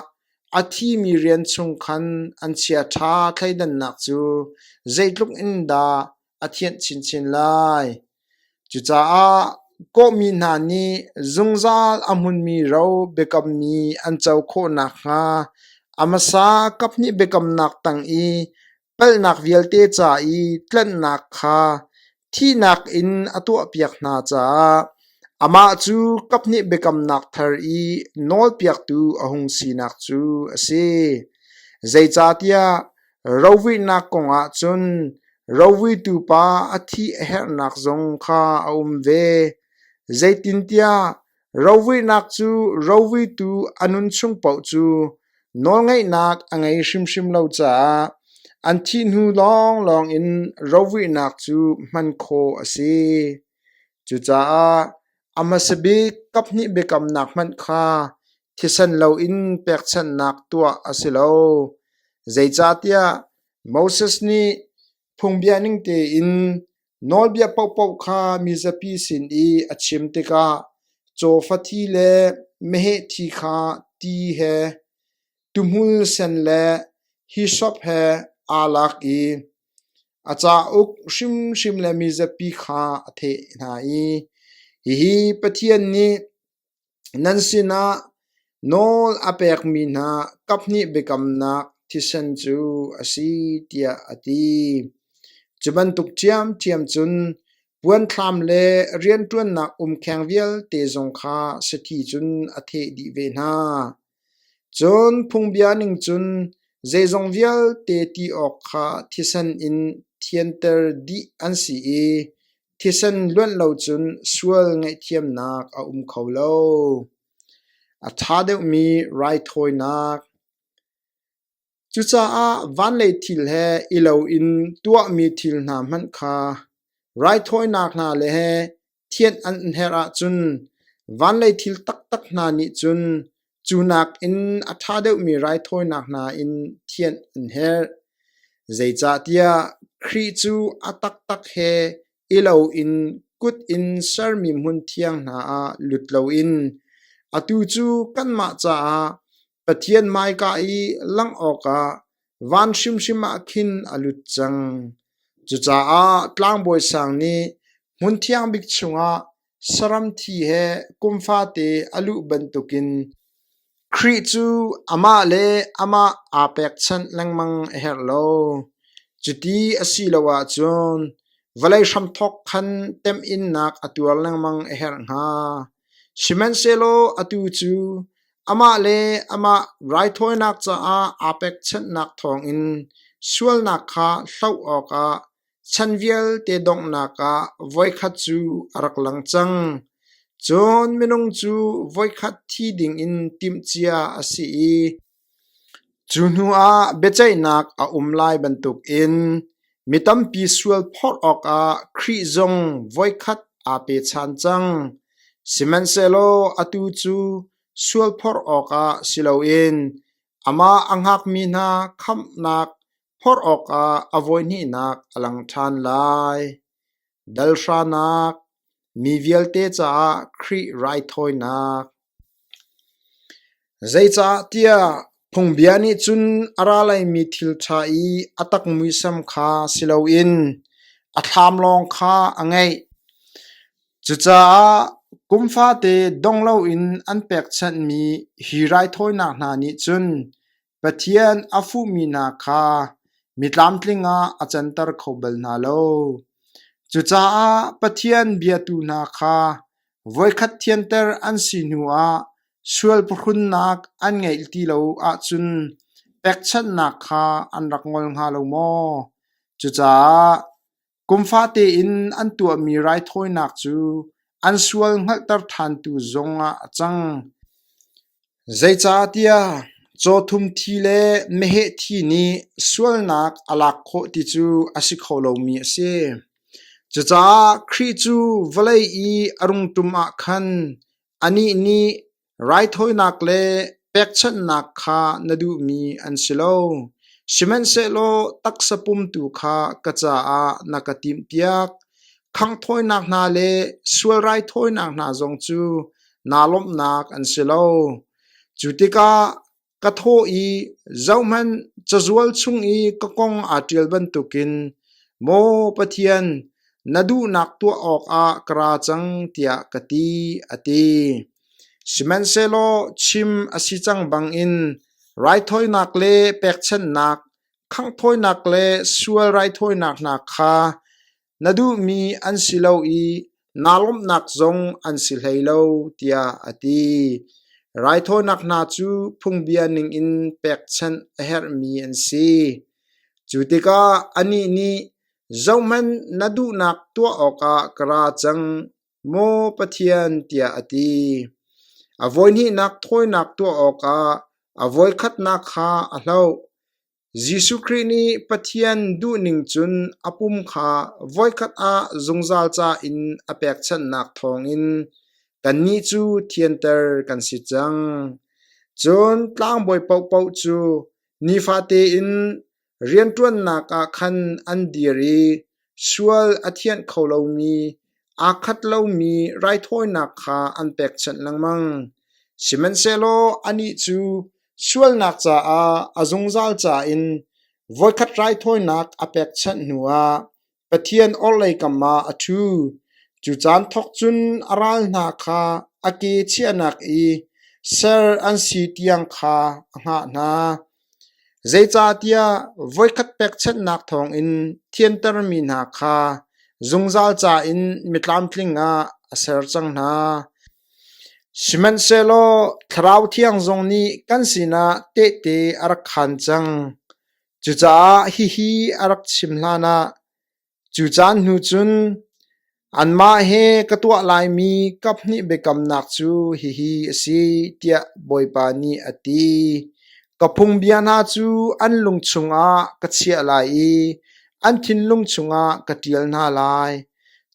A thimi rian chung khan an chiaṭha thleidannak cu zeitluk in dah a thianh chinchin lai! Cucaah kawhmi hna nih zungzal a hmunmi ro biakammi an co khawh nakhnga a hmasa kaphnih biakamnak tang i Hngalhnak vialte ca i tlanhnak kha thihnak in a tuahpiak hna caah amah cu kaphnih biakamnak thar i nawlpiaktu a hung sinak cu a si. Zeicahtiah rovuihnak kongah cun rovuitu pa a thih a herhnak zong kha a um ve. Zeitintiah Rovuihnak cu rovuitu a nun chung paoh cu nawlngeihnak a ngei hrimhrim lo caah an thih hnu lawnglawng in rovuihnak cu hman khawh a si. Cucaah a hmasa bik kaphnih biakamnak hmanh kha thisen loin pekchanhnak tuah a si lo. Zeicahtiah Moses nih Phungbia ning tein nawlbia paohpaoh kha mizapi sin i a chim tikah cawfathi le mehehthi kha ti he, tuhmul sen le hisop he aa lak i a cauk hrimhrim le mizapi kha a theh hna i, “Hihi Pathian nih, Nan sinah nawl a pekmi hna kaphnih biakamnak thisen cu a si, tiah a ti. Cu bantuk ṭhiamṭhiam cun puanthlam le rianṭuannak umkheng vialte zong kha sathi cun a theh dih ve hna. Cun phungbia ning cun zeizong vialte ti awk kha thisen in thianter dih an si i Thisen luanh lo cun sual ngaihthiamnak a um kho lo. A ṭha deuhmi raithawinak. Cucaah van lei thil he i loin tuahmi thil hna hmanh kha raithawinak hna le thianh an herh ahcun van lei thil taktak hna nih cun Cu nakin a ṭha deuhmi raithawinak hna in thianh an herh, zeicahtiah Khrih cu a taktak he i loin kut in sermi hmun thiang hna ah lut loin atu cu kanmah caah Pathian hmaika i langh awkah van hrimhrim ah khin a lut cang. Cucaah tlangbawi sang nih hmun thiang bik chungah Saram thi he kum fate a luh bantukin Khrih cu amah le amah aa pekchanh lengmang a herh lo. Cuti a si lo ahcun vawlei hramthawk khan temhinnak a tuar lengmang a herh hnga. Sihmanhsehlaw atu cu amah le amah raithawinak caah aa pekchanhnak thawngin sualnak kha hloh awkah Chan vialte donghnak ah voikhat cu a rak lang cang, cun minung cu voikhat thi dingin timhcia a si i cu hnuah biaceihnak a um lai bantukin mi tampi sual phawt awkah Khrih zong voikhat aa pechan cang, sihmanhsehlaw atu cu sual phawt awkah si loin amah a hngakmi hna khamhnak Phorh awkah a voihnihnak a lang ṭhan lai. Dalhranak Mi vialte caah Khrih raithawinak Zeicah tiah phungbia nih cun a ra laimi thil ṭha i a tak muisam kha si loin a thlam lawng kha a ngeih. Cucaah kum fate dong loin an pekchanhmi hi raithawinak hna nih cun Pathian a fuhmi hna kha mitlamtling ah a canter kho bal hna lo. Cucaah Pathian biatu hna kha voikhat thianter an si hnuah sual pahrunnak an ngeih ti lo ahcun pekchanhnak kha an rak ngol hnga lo maw? Cucaah Kum fate in an tuahmi raithawinak cu an sual hngalhter ṭhantu zong ah a cang. Zeicahtiah cawthum thi le meheh thi nih sualnak a lak khawh ti cu a si kho lomi a si. Cucaah Khrih cu vawlei i a rungṭum ah khan anih nih Raithawinak le pekchanhnak kha na duhmi an si lo, sihmanhsehlaw taksa pumtu kha ka caah na ka timhpiak. Khanghthawinak hna le sual raithawinak hna zong cu naa lawmhnak an si lo. Cu tikah Ka thaw i zohhmanh, cazual chung i ka kong aa ṭial bantukin maw Pathian, na duhnak tuah awkah ka ra cang tiah ka ti, a ti. Sihmanhsehlaw chim a si cang bangin raithawinak le pekchanhnak, khanghthawinak le sual raithawinak hna kha Na duhmi an si lo i naa lawmhnak zong an si hlei lo tiah a ti. Raithawinak hna cu phungbia ningin pekchanh a herhmi an si. Cu tikah anih nih, Zohhmanh, na duhnak tuah awkah ka ra cang, maw Pathian, tiah a ti. A voihnihnak thawinak tuah awkah a voikhatnak kha a hloh. Jesuh Khrih nih Pathian duhning cun a pum kha voikhat ah zungzal ca in a pekchanhnak thawngin kannih cu thianter kan si cang. Cun tlangbawi paohpaoh cu nifate in rianṭuannak ah khan an dir i Sual a thianh kho lomi, aa khat lomi raithawinak kha an pekchanh lengmang, sihmanhsehlaw anih cu sualnak caah a zungzal ca in voikhat raithawinak a pekchanh hnuah Pathian orhlei kam ah a ṭhu. Cu caan thawk cun a ral hna kha a ke chiahnak i ser an si tiang kha a hngah hna. Zeicahtiah voikhat pekchanhnak thawngin thiantermi hna kha zungzal ca in mitlamtling ah a ser cang hna. Sihmanhsehlaw Thlarau Thiang zong nih kan sinah tehte a rak khaan cang. Cucaah hihi a rak chim hlanah, Cu caan hnu cun anmah he ka tuah laimi kaphnih biakamnak cu hihi a si, tiah Bawipa nih a ti. Ka phungbia hna cu an lung chungah ka chiah lai i an thinlung chungah ka ṭial hna lai.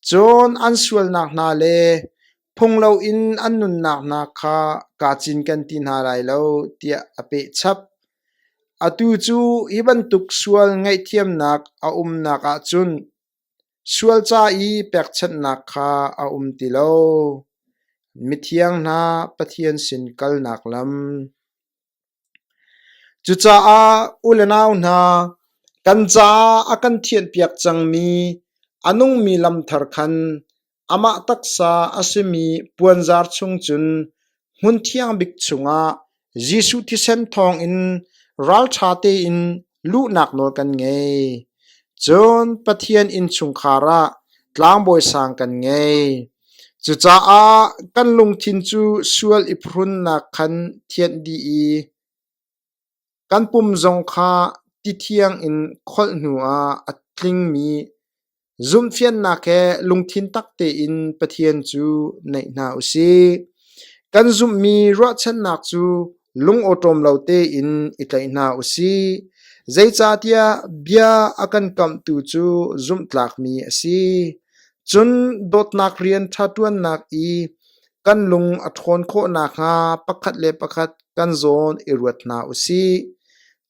Cun an sualnak hna le Phung loin an nunnak hna kha kaa cinken ti hna lai lo tiah a pehchap. Atu cu hi bantuk sual ngaihthiamnak a umnak ahcun sual ca i pekchanhnak kha a um ti lo. Mithiang hna Pathian sin kalnak lam. Cucaah u le nau hna, kan caah a kan thianhpiak cangmi a nungmi lam thar khan amah taksa a simi puanzar chung cun hmun thiang bik chungah Jesuh thisen thawngin ralṭha tein Luhnak nawl kan ngei, cun Pathian innchungkhar ah tlangbawi sang kan ngei. Cucaah kan lungthin cu sual i phrunnak khan thianh dih i kan pum zong kha tithiang in kholh hnuah a tlingmi Zumhfiannak he lungthin tak tein Pathian cu naih hna u sih. Kan zumhmi ruahchannak cu lungawṭawm lo tein i tlaih hna u sih. Zeicahtiah bia a kan kamhtu cu zumhtlakmi a si. Cun dawtnak rian ṭha ṭuannak i kan lung a ṭhawn khawh nakhnga pakhat le pakhat kan zawn i ruat hna u sih.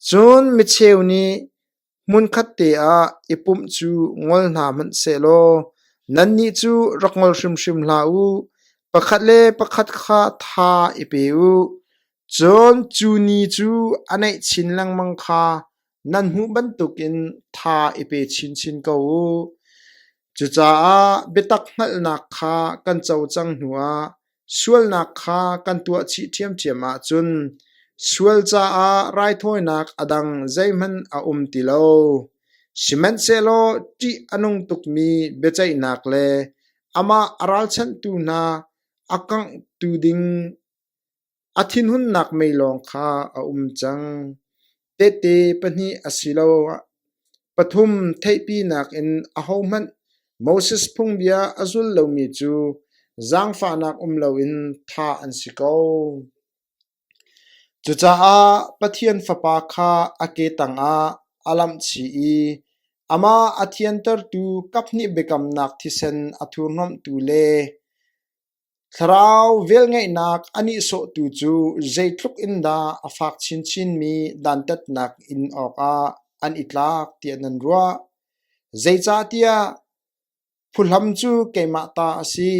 Cun micheu nih Hmunkhat te ah i pumh cu ngol hna hmanh sehlaw nannih cu rak ngol hrimhrim hlah u. Pakhat le pakhat kha tha i pe u, cun cu ni cu a naih chin lengmang kha nan hmuh bantukin tha i pe chinchin ko u. Cucaah biatak hngalhnak kha kan co cang hnuah Sualnak kha kan tuah chih ṭhiamṭhiam ahcun sual caah raithawinak a dang zeihmanh a um ti lo. Sihmanhsehlaw ṭih a nung tukmi biaceihnak le amah a ralchanhtu hna a kanghtu ding a thinhunnak mei lawng kha a um cang. Tehte pahnih asiloah pathum theihpinak in ahohmanh Moses phungbia a zul lomi cu zaangfahnak um loin thah an si ko. Cucaah Pathian Fapa kha a ke tangah a lamhchih i amah a thiantertu kaphnih biakamnak thisen a thurhnawmhtu le Thlarau velngeihnak a nihsawhtu cu zeitluk in dah a fak chinchinmi dantatnak in awkah an i tlak tiah nan ruah? Zeicahtiah phuhlam cu keimah ta a si,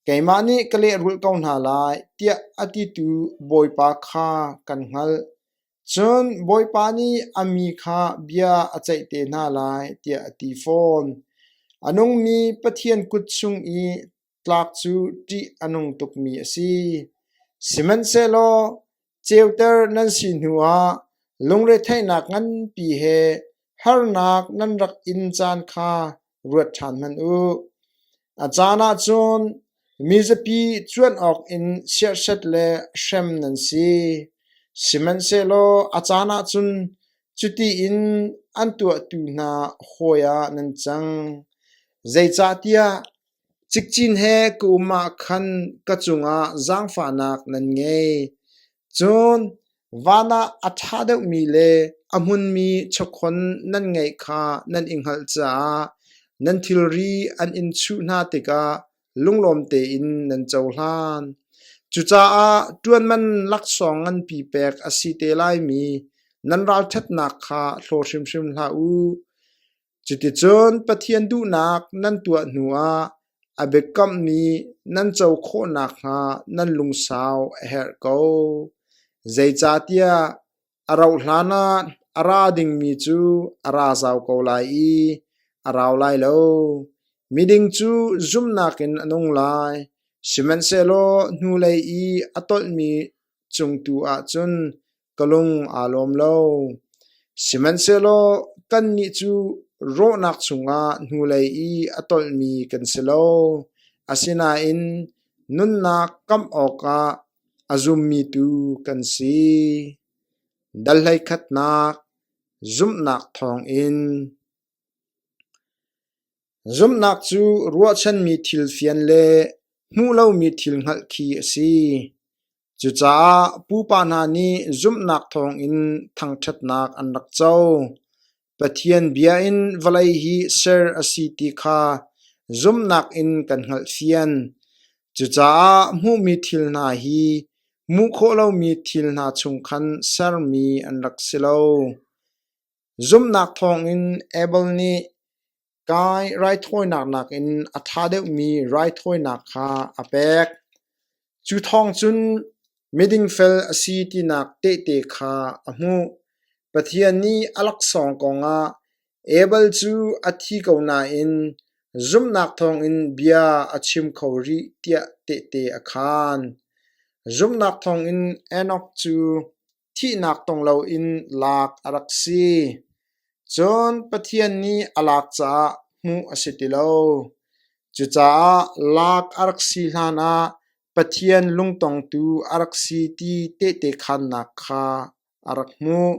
keimah nih ka lehrulh ko hna lai, tiah a titu Bawipa kha kan hngalh. Cun Bawipa nih a mi kha bia a ceih te hna lai, tiah a ti fawn. A nungmi Pathian kut chung i Tlak cu ṭih a nung tukmi a si. Sihmanhsehlaw ceuter nan si hnuah lungretheihnak nganpi he harnak nan rak in caan kha ruat ṭhan hmanh u. A caan ah cun mizapi cuanh awkin siahset le hrem nan si. Sihmanhsehlaw a caan ah cun cuti in an tuahtu hna hawi ah nan cang. Zeicahtiah Cikcin he ka um ahkhan ka cungah zaangfahnak nan ngei. Cun van ah a ṭha deuhmi le a hmunmi chakhon nan ngeih kha nan i hngalh caah nan thilri an in chuh hna tikah lunglawm tein nan cohlan. Cucaah ṭuanman laksawng nganpi pek a si te laimi nan ralṭhatnak kha hlaw hrimhrim hlah u. Cuticun Pathian duhnak nan tuah hnuah a biakammi nan co khawh nakhnga nan lungsau a herh ko. Zeicahtiah a rauhhlan ah a ra dingmi cu a ra zau ko lai i a rau lai lo. Miding cu zumnak in a nung lai, sihmanhsehlaw hnulei i a tolhmi cung tu ah cun ka lung aa lawm lo. Sihmanhsehlaw kannih cu rawhnak chungah hnulei i a tolhmi kan si lo. Asinain nunnak kamh awkah a zummi tu kan si. Dal hleikhatnak zumhnak thawngin Zumhnak cu ruahchanmi thil fian le hmuh lomi thil hngalh khi a si. Cucaah pupa hna nih zumhnak thawngin thangṭhatnak an rak co. Pathian bia in vawlei hi ser a si ti kha zumhnak in kan hngalh fian. Cucaah hmuhmi thil hna hi hmuh khawh lomi thil hna chung khan sermi an rak si lo. Zumhnak thawngin Abel nih Kai raithawinak nakin a ṭha deuhmi raithawinak kha a pek. Cu thawng cun miding fel a si tinak tehte kha a hmuh. Pathian nih a laksawng kongah Abel cu a thi ko nain zumhnak thawngin bia a chim kho rih tiah tehte a khaan. Zumhnak thawngin Enok cu thihnak tong loin lak a rak si. Cun Pathian nih a lak caah hmuh a si ti lo. Cucaah lak a rak si hlanah Pathian lungtongtu a rak si ti tehte khannak kha a rak hmuh.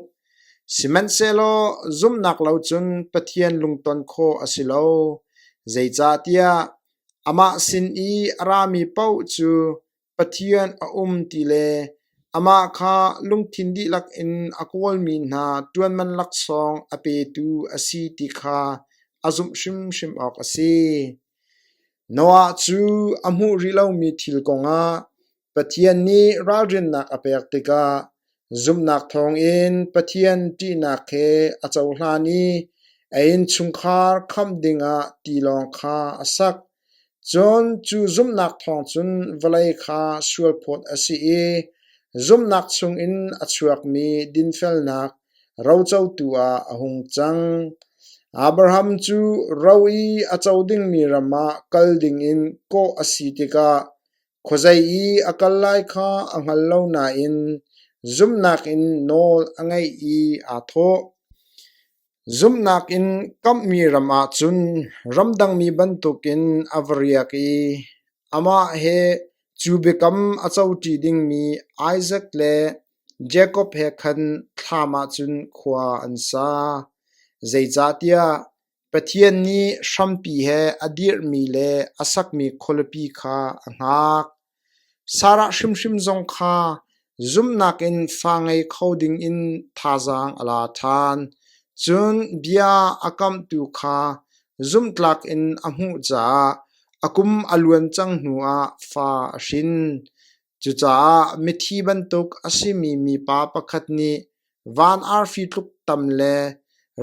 Sihmanhsehlaw zumhnak lo cun Pathian lungton khawh a si lo. Zeicahtiah amah sin i a rami paoh cu Pathian a um ti le amah kha lungthin dihlak in a kawlmi hna ṭuanman laksawng a petu a si ti kha a zumh hrimhrim awk a si. Noah cu a hmuh rih lomi thil kongah Pathian nih ralrinnak a pek tikah zumhnak thawngin Pathian ṭihnak he a cohlan i a innchungkhar khamh dingah tilawng kha a sak. Cun cu zumhnak thawng cun vawlei kha sualphawt a si i zumhnak chungin a chuakmi dinfelnak rocotu ah a hung cang. Abraham cu ro i a co dingmi ram ah kal dingin kawh a si tikah khuazei i a kal lai kha a hngal lo nain zumhnak in nawl a ngeih i aa thawh. Zumhnak in kamhmi ram ahcun ramdangmi bantukin a va riak i amah he cu biakam a coṭi dingmi Isak le Jakob he khan thlam ahcun khua an sa. Zeicahtiah Pathian nih hrampi he a dirhmi le a sakmi khualipi kha a hngak. Sarah hrimhrim zong kha zumhnak in fa ngei kho dingin thazaang a la ṭhan, cun bia a kamhtu kha zumhtlak in a hmuh caah a kum a luan cang hnuah fa a hrin. Cucaah mithi bantuk a simi mipa pakhat nih Van arfi tluk tam le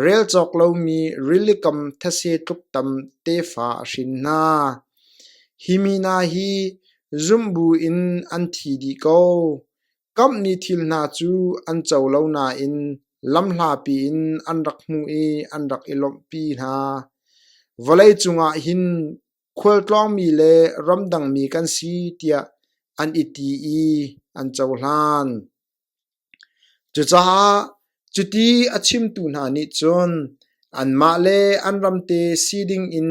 rel cawk lomi rilikam thetse tluk tam tefa a hrin hna. Hi mi hna hi zumh bu in an thi dih ko. Kamhnih thil hna cu an co lo nain lamhlapi in an rak hmuh i an rak i lawmhpi hna. Vawlei cungah hin khualtlawngmi le ramdangmi kan si tiah an i ti i an cohlan. Cucaah cuti a chimtu hna nih cun anmah le an ramte si dingin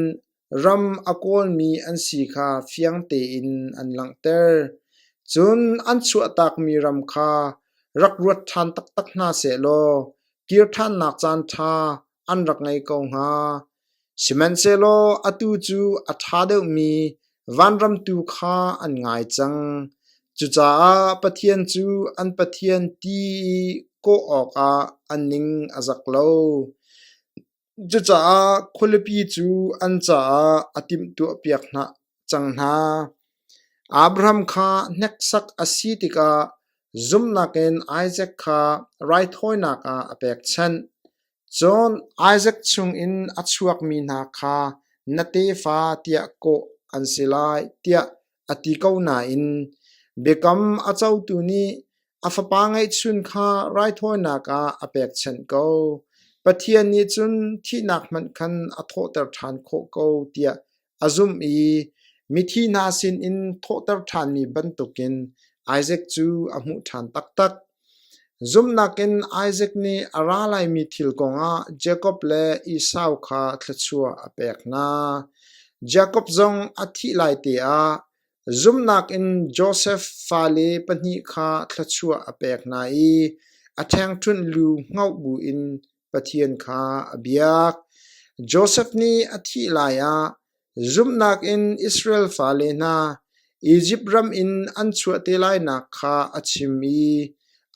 ram a kawlmi an si kha fiang tein an langhter. Cun an chuahtakmi ram kha rak ruat ṭhan taktak hna sehlaw kir ṭhannak caanṭha an rak ngei ko hnga. Sihmanhsehlaw atu cu a ṭha deuhmi vanram tu kha an ngai cang; cucaah Pathian cu an Pathian ti i kawh awkah an ning a zak lo. Cucaah khualipi cu an caah a timhtuahpiak hna cang hna. Abraham kha hneksak a si tikah zumhnak in Isak kha raithawinak ah a pekchanh. Cun Isak chungin a chuakmi hna kha na tefa tiah kawh an si lai tiah a ti ko nain biakam a cotu nih a fapa ngeihchun kha raithawinak ah a pekchanh ko. Pathian nih cun thihnak hmanh khan a thawhter ṭhan khawh ko tiah a zumh i mithi hna sinin thawhter ṭhanmi bantukin Isaac cu a hmuh ṭhan taktak. Zumhnak in Isaac nih a ra laimi thil kongah Jakob le Esau kha thluachuah a pek hna. Jakob zong a thih lai teah zumhnak in Josef fale pahnih kha thluachuah a pek hna i a ṭhengṭhunh lu hngoh buin Pathian kha a biak. Josef nih a thih lai ah zumhnak in Israel fale hna Izipt ram in an chuah te lainak kha a chim i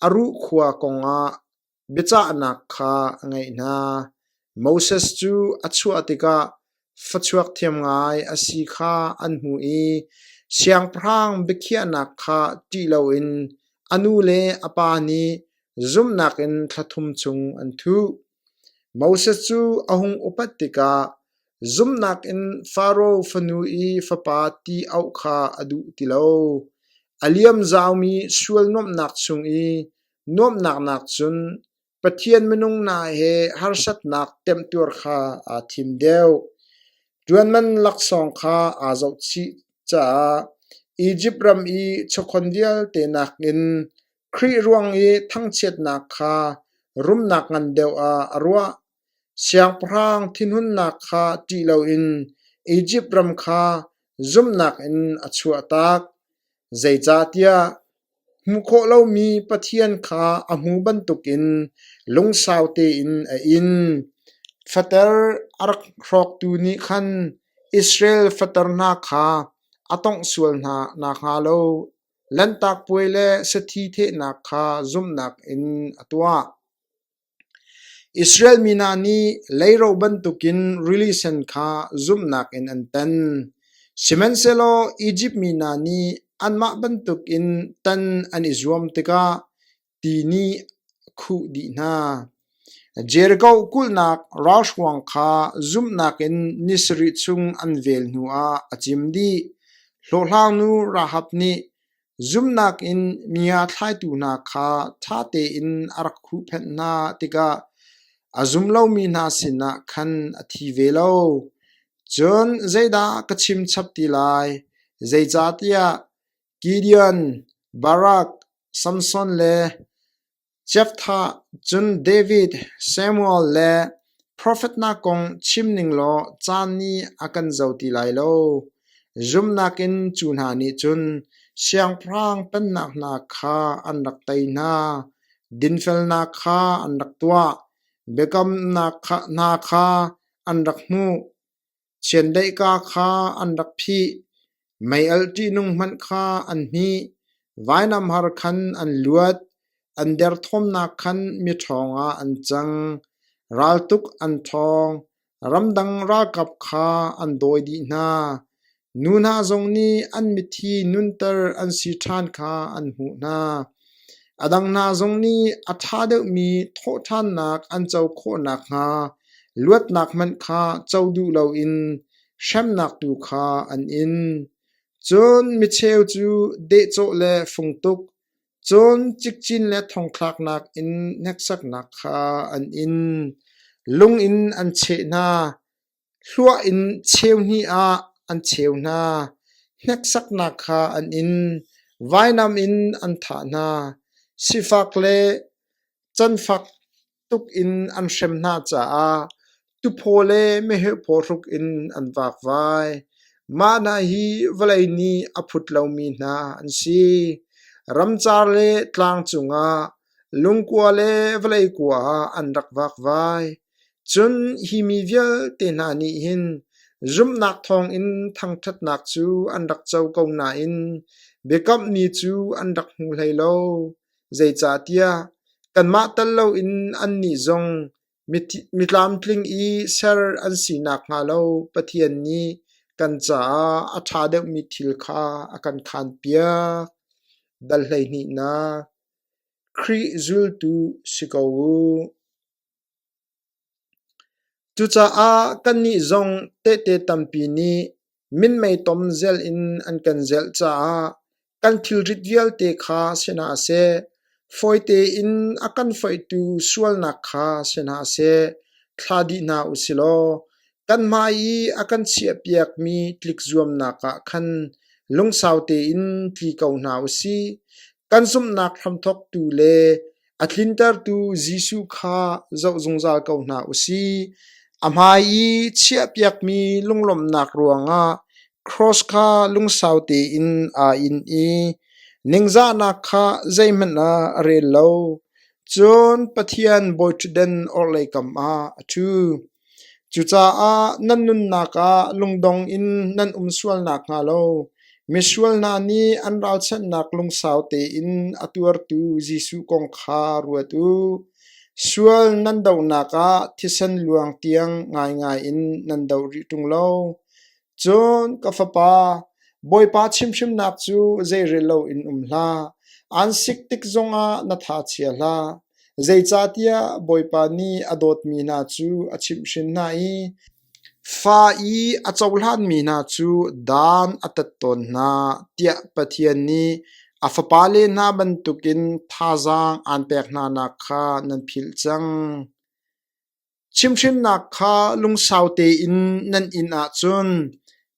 a ruh khua kongah biacahnak kha a ngaih hna. Moses cu a chuah tikah Fachuak thiam ngai a si kha an hmuh i siangpahrang biakhiahnak kha ṭih loin a nu le a pa nih zumhnak in thla thum chung an thuh. Moses cu a hung upat tikah zumhnak in Faro fanu i fapa ti auh kha a duh ti lo. A liam zaumi sual nuamhnak chung i nuamhnak nak cun Pathian minung hna he harsatnak temtuar kha aa thim deuh. Ṭuanman laksawng kha aa zohchih caah Izipt ram i chawkhon vialte nakin Khrih ruang i thangchiatnak kha rumnak ngan deuh ah a ruah. Siangpahrang thinhunnak kha ṭih loin Izipt ram kha zumhnak in a chuahtak. Zeicahtiah Hmuh khawh lomi Pathian kha a hmu bantukin lungsau tein a in. Fater a rak hrawktu nih khan Israel fater hna kha a tawngh sual hna nakhnga lo Lanhtak Puai le sathi thehnak kha zumhnak in a tuah. Israel mi hna nih leiro bantukin rili sen kha zumhnak in an tan. Sihmanhsehlaw Izipt mi hna nih anmah bantukin tan an i zuam tikah ti nih a khuh dih hna. Jeriko kulhnak ralhruang kha zumhnak in ni sarih chung an vel hnuah a cim dih. Hlawhhlangnu Rahab nih Zumhnak in mi a thlaitu hna kha ṭha tein a rak huhphenh hna tikah a zum lomi hna sinah khan a thi ve lo. Cun zeidah ka chim chap ti lai? Zeicahtiah Gideon, Barak, Samson le Jephthah cun David, Samuel le profetnak kong chim ning law caan nih a kan zo ti lai lo. Zumnak in cu hna nih cun siangpahrang pennak hna kha an rak tei hna, dinfelnak kha an rak tuah, biakamnak hna kha an rak hmuh. Chiandeihka kha an rak phih, meialh ṭihnung hmanh kha an hmih, vainamhar khan an luat, an derthawmnak khan miṭhawng ah an cang, raltuk an ṭhawng, ramdang ralkap kha an dawi dih hna. Nu hna zong nih an mithi nunter an si ṭhan kha an hmuh hna. A dang hna zong nih a ṭha deuhmi thawhṭhannak an co khawh nakhnga luatnak hmanh kha co duh loin hremnak tu kha an in. Cun micheu cu dehcawh le fungtuk, cun cikcin le thongthlaknak in hneksaknak kha an in. Lung in an cheh hna. Hlua in cheu hnih ah an cheu hna, hneksaknak kha an in, vainam in an thah hna, sifak le canfak tuk in an hrem hna caah tuphaw le meheh phaw hruk in an vakvai. Mah hna hi vawlei nih a phut lomi hna an si. Ramcar le tlang cungah, lungkua le vawlei kua ah an rak vakvai. Cun hi mi vialte hna nih hin zumhnak thawngin thangṭhatnak cu an rak co ko nain biakamhmi cu an rak hmu hlei lo. Zeicahtiah kanmah tal loin annih zong mitlamtling i ser an si nakhnga lo Pathian nih kan caah a ṭha deuhmi thil kha a kan khaanpiak. Dal hleihnihnak Khrih zultu si ko u. Cucaah kannih zong tehte tampi nih minmei tom zel in an kan zelh caah kan thilrit vialte kha sinah seh, fawi tein a kan foihtu sualnak kha sinah seh thla dih hna u silaw kanmah i a kan chiahpiakmi tlikzuamnak ah khan lungsau tein tli ko hna u si. Kan zumhnak hramthawktu le A tlintertu Jesuh kha zoh zungzal ko hna u sih. A hmai i chiahpiakmi lunglawmhnak ruangah cross kha lungsau tein aa in i ningzahnak kha zeihmanh ah a rel lo, cun Pathian bawiṭhutden orhlei kam ah a ṭhu. Cucaah nan nunnak ah lungdong in nan um sual nakhnga lo misual hna nih an ralchanhnak lungsau tein a tuartu Jesuh kong kha ruat u. Sual nan dohnak ah thisen luang tiang ngaingai in nan do rih ṭung lo. Cun ka fapa, Bawipa chimhhrimnak cu zeirel loin um hlah; aan sik tik zongah na thachiat hlah. Zeicahtiah Bawipa nih a dawtmi hna cu a chimhhrin hna i fa i a cohlanmi hna cu dan a tat tawn hna, tiah Pathian nih a fapale hna bantukin thazaang aan pek hnanak kha nan philh cang. Chimhhrinnak kha lungsau tein nan in ahcun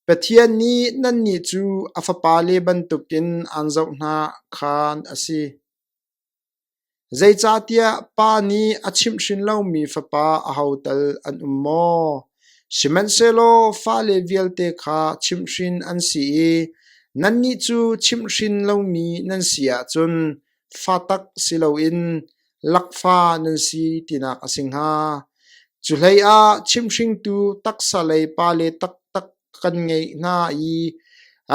Pathian nih nannih cu a fapale bantukin aan zoh hna khan a si. Zeicahtiah Pa nih a chimhhrin lomi Fapa ahotal an um maw? Sihmanhsehlaw fale vialte kha chimhhrin an si i nannih cu chimhhrin lomi nan si ahcun Fatak si loin lakfa nan si tinak a si hnga. Cuhlei ah chimhringtu taksa lei pale taktak kan ngeih hna i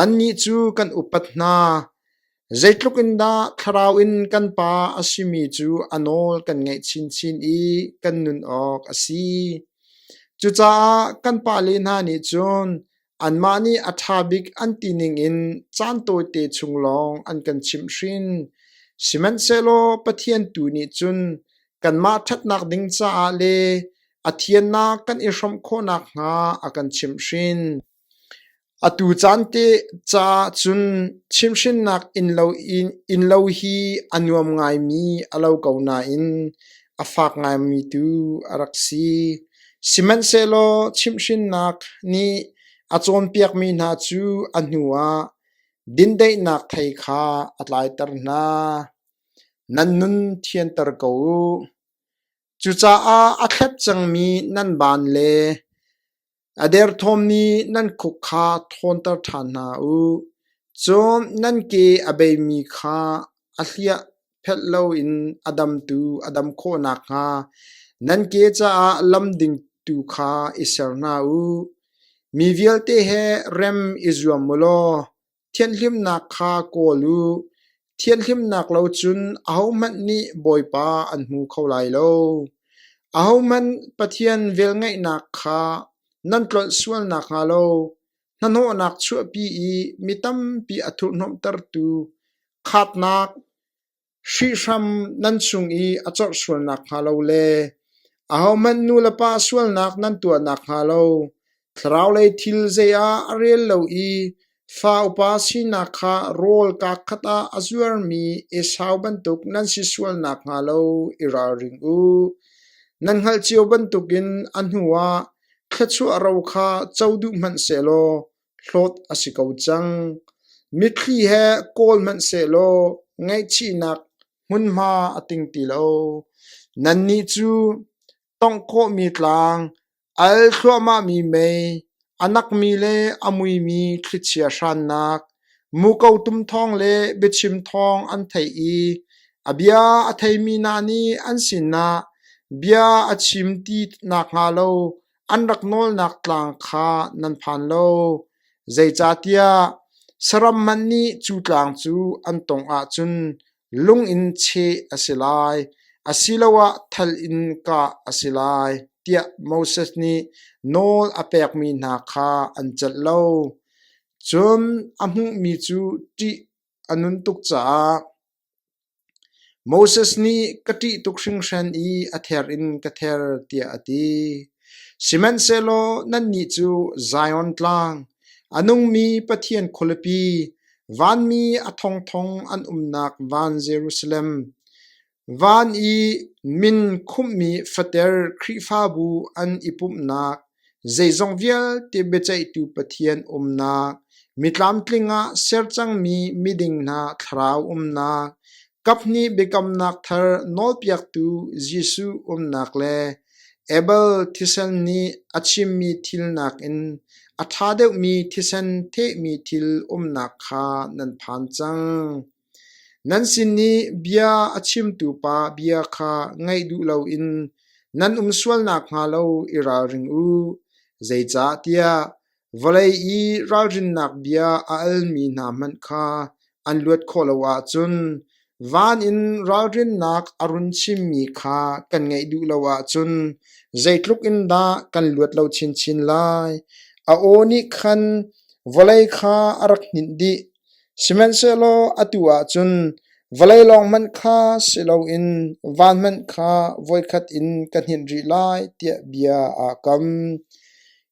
annih cu kan upat hna. Zeitluk in dah thlarau in kan Pa a simi cu a nawl kan ngaih chinchin i kan nun awk a si. Cucaah kan pale hna nih cun Anmah nih a ṭha bik an ti ningin caan tawite chung lawng an kan chimhhrin, sihmanhsehlaw Pathian tu nih cun kanmah ṭhatnak ding caah le a thiannak kan i hrawmh khawh nakhnga a kan chimhhrin. Atu caan te caah cun chimhhrinnak innlo in innlo hi a nuam ngaimi a lo ko nain a fak ngaimi tu a rak si. Sihmanhsehlaw chimhhrinnak nih a cawnpiakmi hna cu a hnuah dindaihnak thei kha a tlaiter hna. Nan nun thianter ko u. Cucaah a thlet cangmi nan ban le A derthawmmi nan khuk kha thawnter ṭhan hna u; cun nan ke a beimi kha a hliah phelh loin a damtu a dam khawh nakhnga nan ke caah lam ding tu kha i ser hna u. Mi vialte he rem i zuam u law Thianhlimnak kha kawl u; thianhlimnak lo cun ahohmanh nih Bawipa an hmu kho lai lo. Ahohmanh Pathian velngeihnak kha nan tlolh sual nakhnga lo hnahnawhnak chuahpi i mi tampi a thurhhnawmhtertu khatnak hrihhram nan chung i a corh sual nakhnga lo le ahohmanh nulepa sualnak nan tuah nakhnga lo thlaraulei thil zei ah a rel lo i fa upa sinak kha rawl kaa khat ah a zuarmi Esau bantuk nan si sual nakhnga lo i ralring u. Nan hngalh cio bantukin a hnuah thluachuah ro kha co duh hmanh sehlaw hlawt a si ko cang. Mitthli he kawl hmanh sehlaw ngaihchihnak hmunhma a ting ti lo. Nannih cu tongh khawhmi tlang, al thluahmahmi mei, a nakmi le a muimi thlichia hrannak, muko tum thawng le biachim thawng an theih i a bia a theimi hna nih an sinah bia a chim ti nakhnga lo an rak nawlnak tlang kha nan phan lo, zeicahtiah saram hmanh nih cu tlang cu an tawngh ahcun lung in cheh a si lai, asiloah thal in kah a si lai, tiah Moses nih nawl a pekmi hna kha an celh lo. Cun a hmuhmi cu ṭih a nun tuk caah, Moses nih ka ṭih tuk hringhran i a ther in ka ther tiah a ti. Sihmanhsehlaw nannih cu Zion Tlang, a nungmi Pathian khualipi, vanmi a thongthong an umnak van Jerusalem, van i min khumhmi fater Khrihfabu an i pumhnak Zeizong vialte biaceihtu Pathian umnak, mitlamtling ah ser cangmi miding hna thlarau umnak, kaphnih biakamnak thar nawlpiaktu Jesuh umnak le Abel thisen nih a chimmi thil nakin a ṭha deuhmi thisen thehmi thil umnak kha nan phan cang. Nan sin i bia a chimtu pa bia kha ngaih duh loin nan um sual nakhnga lo i ralring u, zeicahtiah vawlei i ralrinnak bia a almi hna hmanh kha an luat khawh lo ahcun van in ralrinnak a run chimmi kha kan ngaih duh lo ahcun zeitluk in dah kan luat lo chinchin lai? A aw nih khan vawlei kha a rak hninh dih. Sihmanhsehlaw atu ah cun vawlei lawng hmanh kha si loin van hmanh kha voikhat in ka hninh rih lai, tiah bia aa kam.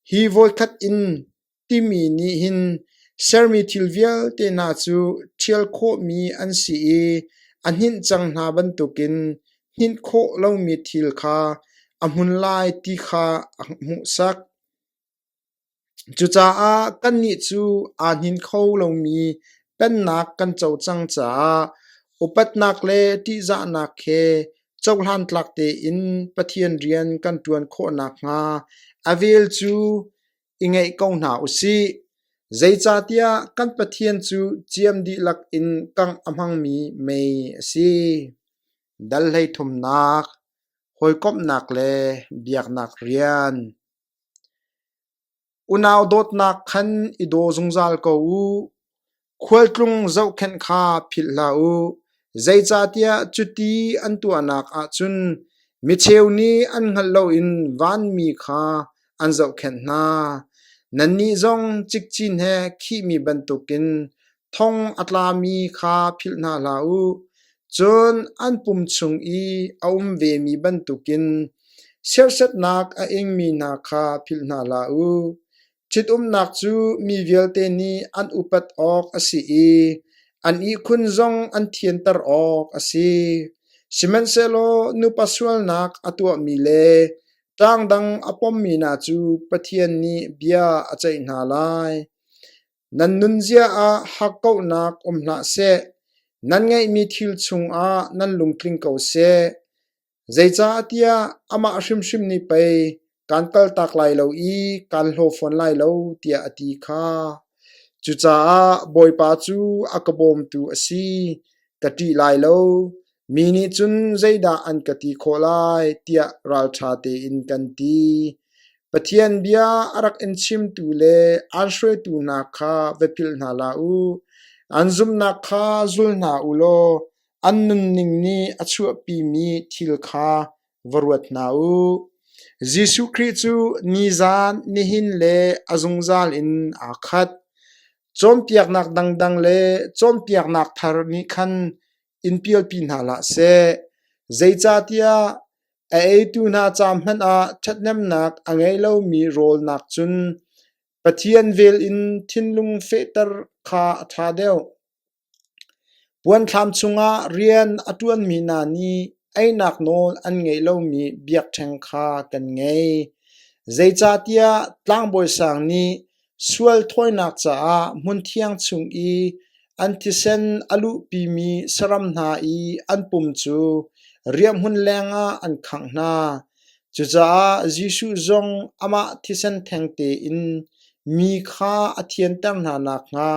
Hi voikhat in timi nih hin sermi thil vialte hna cu ṭhial khawhmi an si i a hninh cang hna bantukin hninh khawh lomi thil kha a hmun lai ti kha a hmuhsak. Cucaah kannih cu aa hnin kho lomi Pennak kan co cang caah upatnak le ṭihzahnak he cohlan tlak tein Pathian rian kan ṭuan khawh nakhnga a vel cu i ngaih ko hna u sih. Zeicahtiah kan Pathian cu ciam dihlak in kangh a hmangmi mei a si. Dal hleithumnak, hawikomhnak le biaknak rian. Unau dawtnak khan i daw zungzal ko u. Khualtlung zohkhenh kha philh hlah u, zeicahtiah cuti an tuahnak ah cun micheu nih an hngalh loin vanmi kha an zohkhenh hna. Nannih zong cikcin he khihmi bantukin Thong a tlami kha philh hna hlah u, cun an pum chung i a um vemi bantukin sersetnak a ingmi hna kha philh hna hlah u. Ṭhitumnak cu mi vialte nih an upat awk a si i an ihkhun zong an thianter awk a si. Sihmanhsehlaw nupa sualnak a tuahmi le ṭang dang a pommi hna cu Pathian nih bia a ceih hna lai. Nan nunzia ah hakkauhnak um hlah seh; nan ngeihmi thil chungah nan lungtling ko seh. Zeicahtiah amah hrimhrim nih pei kaan kaltak lai lo i kaan hlaw fawn lai lo, tiah a ti kha. Cucaah Bawipa cu a ka bawmtu a si, ka ṭih lai lo. Mi nih cun zeidah an ka ti khawh lai tiah ralṭha tein kan ti. Pathian bia a rak in chimtu le an hruaitu hna kha va philh hna la u. An zumhnak kha zul hna u law an nunning nih a chuahpimi thil kha va ruat hna u. Jesuh Khrih cu nizan, nihin le a zungzal in aa khat. Cawnpiaknak dangdang le cawnpiaknak thar nih khan in pialpi hna hlah seh. Zeicahtiah a eitu hna ca hmanh ah ṭhathnemnak a ngei lomi rawlnak cun Pathian vel in thinlung fehter kha a ṭha deuh. Puanthlam chungah rian a ṭuanmi hna nih einak nawl an ngei lomi biakṭheng kha kan ngei. Zeicahtiah tlangbawi sang nih Sual thawinak caah hmunthiang chung i an thisen a luhpimi saram hna i an pum cu riahhmun lengah an khangh hna. Cucaah Jesuh zong amah thisen theng tein mi kha a thianter hna nakhnga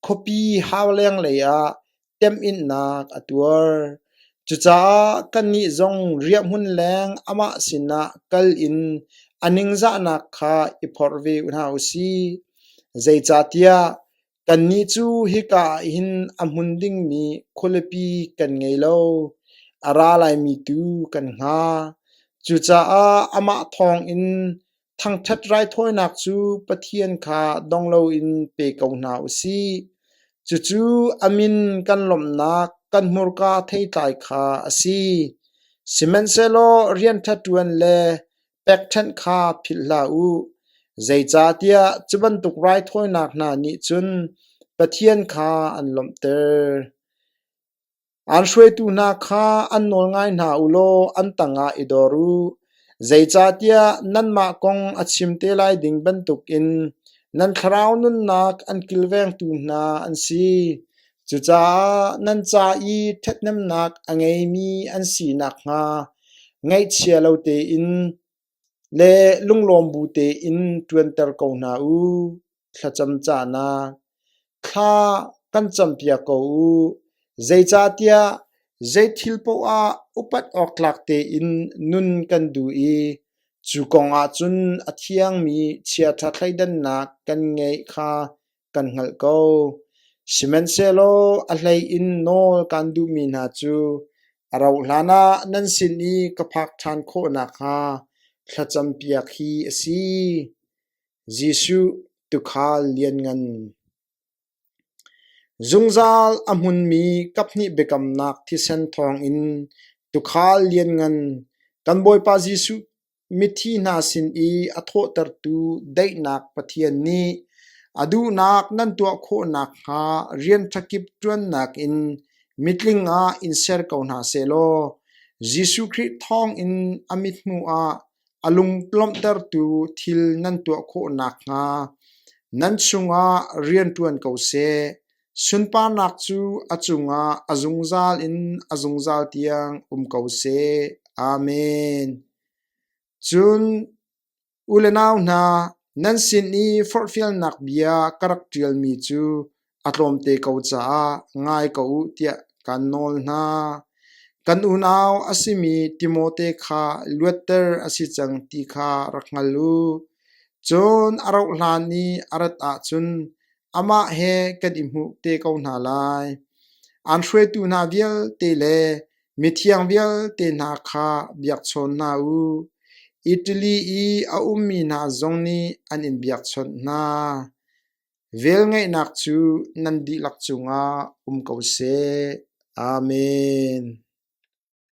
khuapi hau lenglei ah temhinnak a tuar. Cucaah kannih zong riahhmun leng amah sinah kal in a ningzahnak kha i phorh ve hna u sih. Zeicahtiah kannih cu hika ah hin a hmun dingmi khualipi kan ngei lo, a ra laimi tu kan hnga. Cucaah amah thawngin Thangṭhat raithawinak cu Pathian kha dong loin pe ko hna u sih; cucu a min kan lawmhnak kan hmurka theitlai kha a si. Sihmanhsehlaw rian ṭha ṭuan le pekṭhenh kha philh hlah u, zeicahtiah cu bantuk raithawinak hna nih cun Pathian kha an lawmhter. An hruaitu hna kha an nawl ngai hna u law an tangah i dor u, zeicahtiah nanmah kong a chim te lai ding bantukin nan thlarau nunnak an kilvengtu hna an si. Cucaah nan ca i ṭhathnemnak a ngeimi an si nakhnga ngaihchia lo tein Le lunglawm bu tein ṭuanter ko hna u, thlacam cahnak. Thla kan campiak ko u, zeicahtiah zei thil paoh ah upat awktlak tein nun kan duh i cu kongah cun a thiangmi chiaṭha thleidannak kan ngeih kha kan hngalh ko. Sihmanhsehlaw a hlei in nawl kan duhmi hna cu a rauhhlan ah nan sin i ka phak ṭhan khawh nakhnga thlacampiak hi a si. Jesuh tuukhal lianngan Zungzal a hmunmi kaphnih biakamnak thisen thawngin tuukhal lianngan kan Bawipa Jesuh Mithi hna sin i a thawhtertu daihnak Pathian nih a duhnak nan tuah khawh nakhnga rian ṭha kip ṭuannak in mitling ah in ser ko hna sehlaw Jesuh Khrih thawngin a mit hnuah a lunglawmhtertu thil nan tuah khawh nakhnga nan chungah rian ṭuan ko seh. Sunparnak cu a cungah a zungzal in a zungzal tiang um ko seh. Amen. Cun u le nau hna, nan sin i forhfialnak bia ka rak ṭialmi cu a tlawmte ko caah ngai ko u tiah kaan nawl hna. Kan unau a simi Timote kha luatter a si cang ti kha rak hngal u. Cun a rauhhlan i a rat ahcun amah he kan i hmuh te ko hna lai. An hruaitu hna vialte le mithiang vialte hna kha biakchawn hna u. Italy i a ummi hna zong nih an in biakchawnh hna. Velngeihnak cu nan dihlak cungah um ko seh. Amen.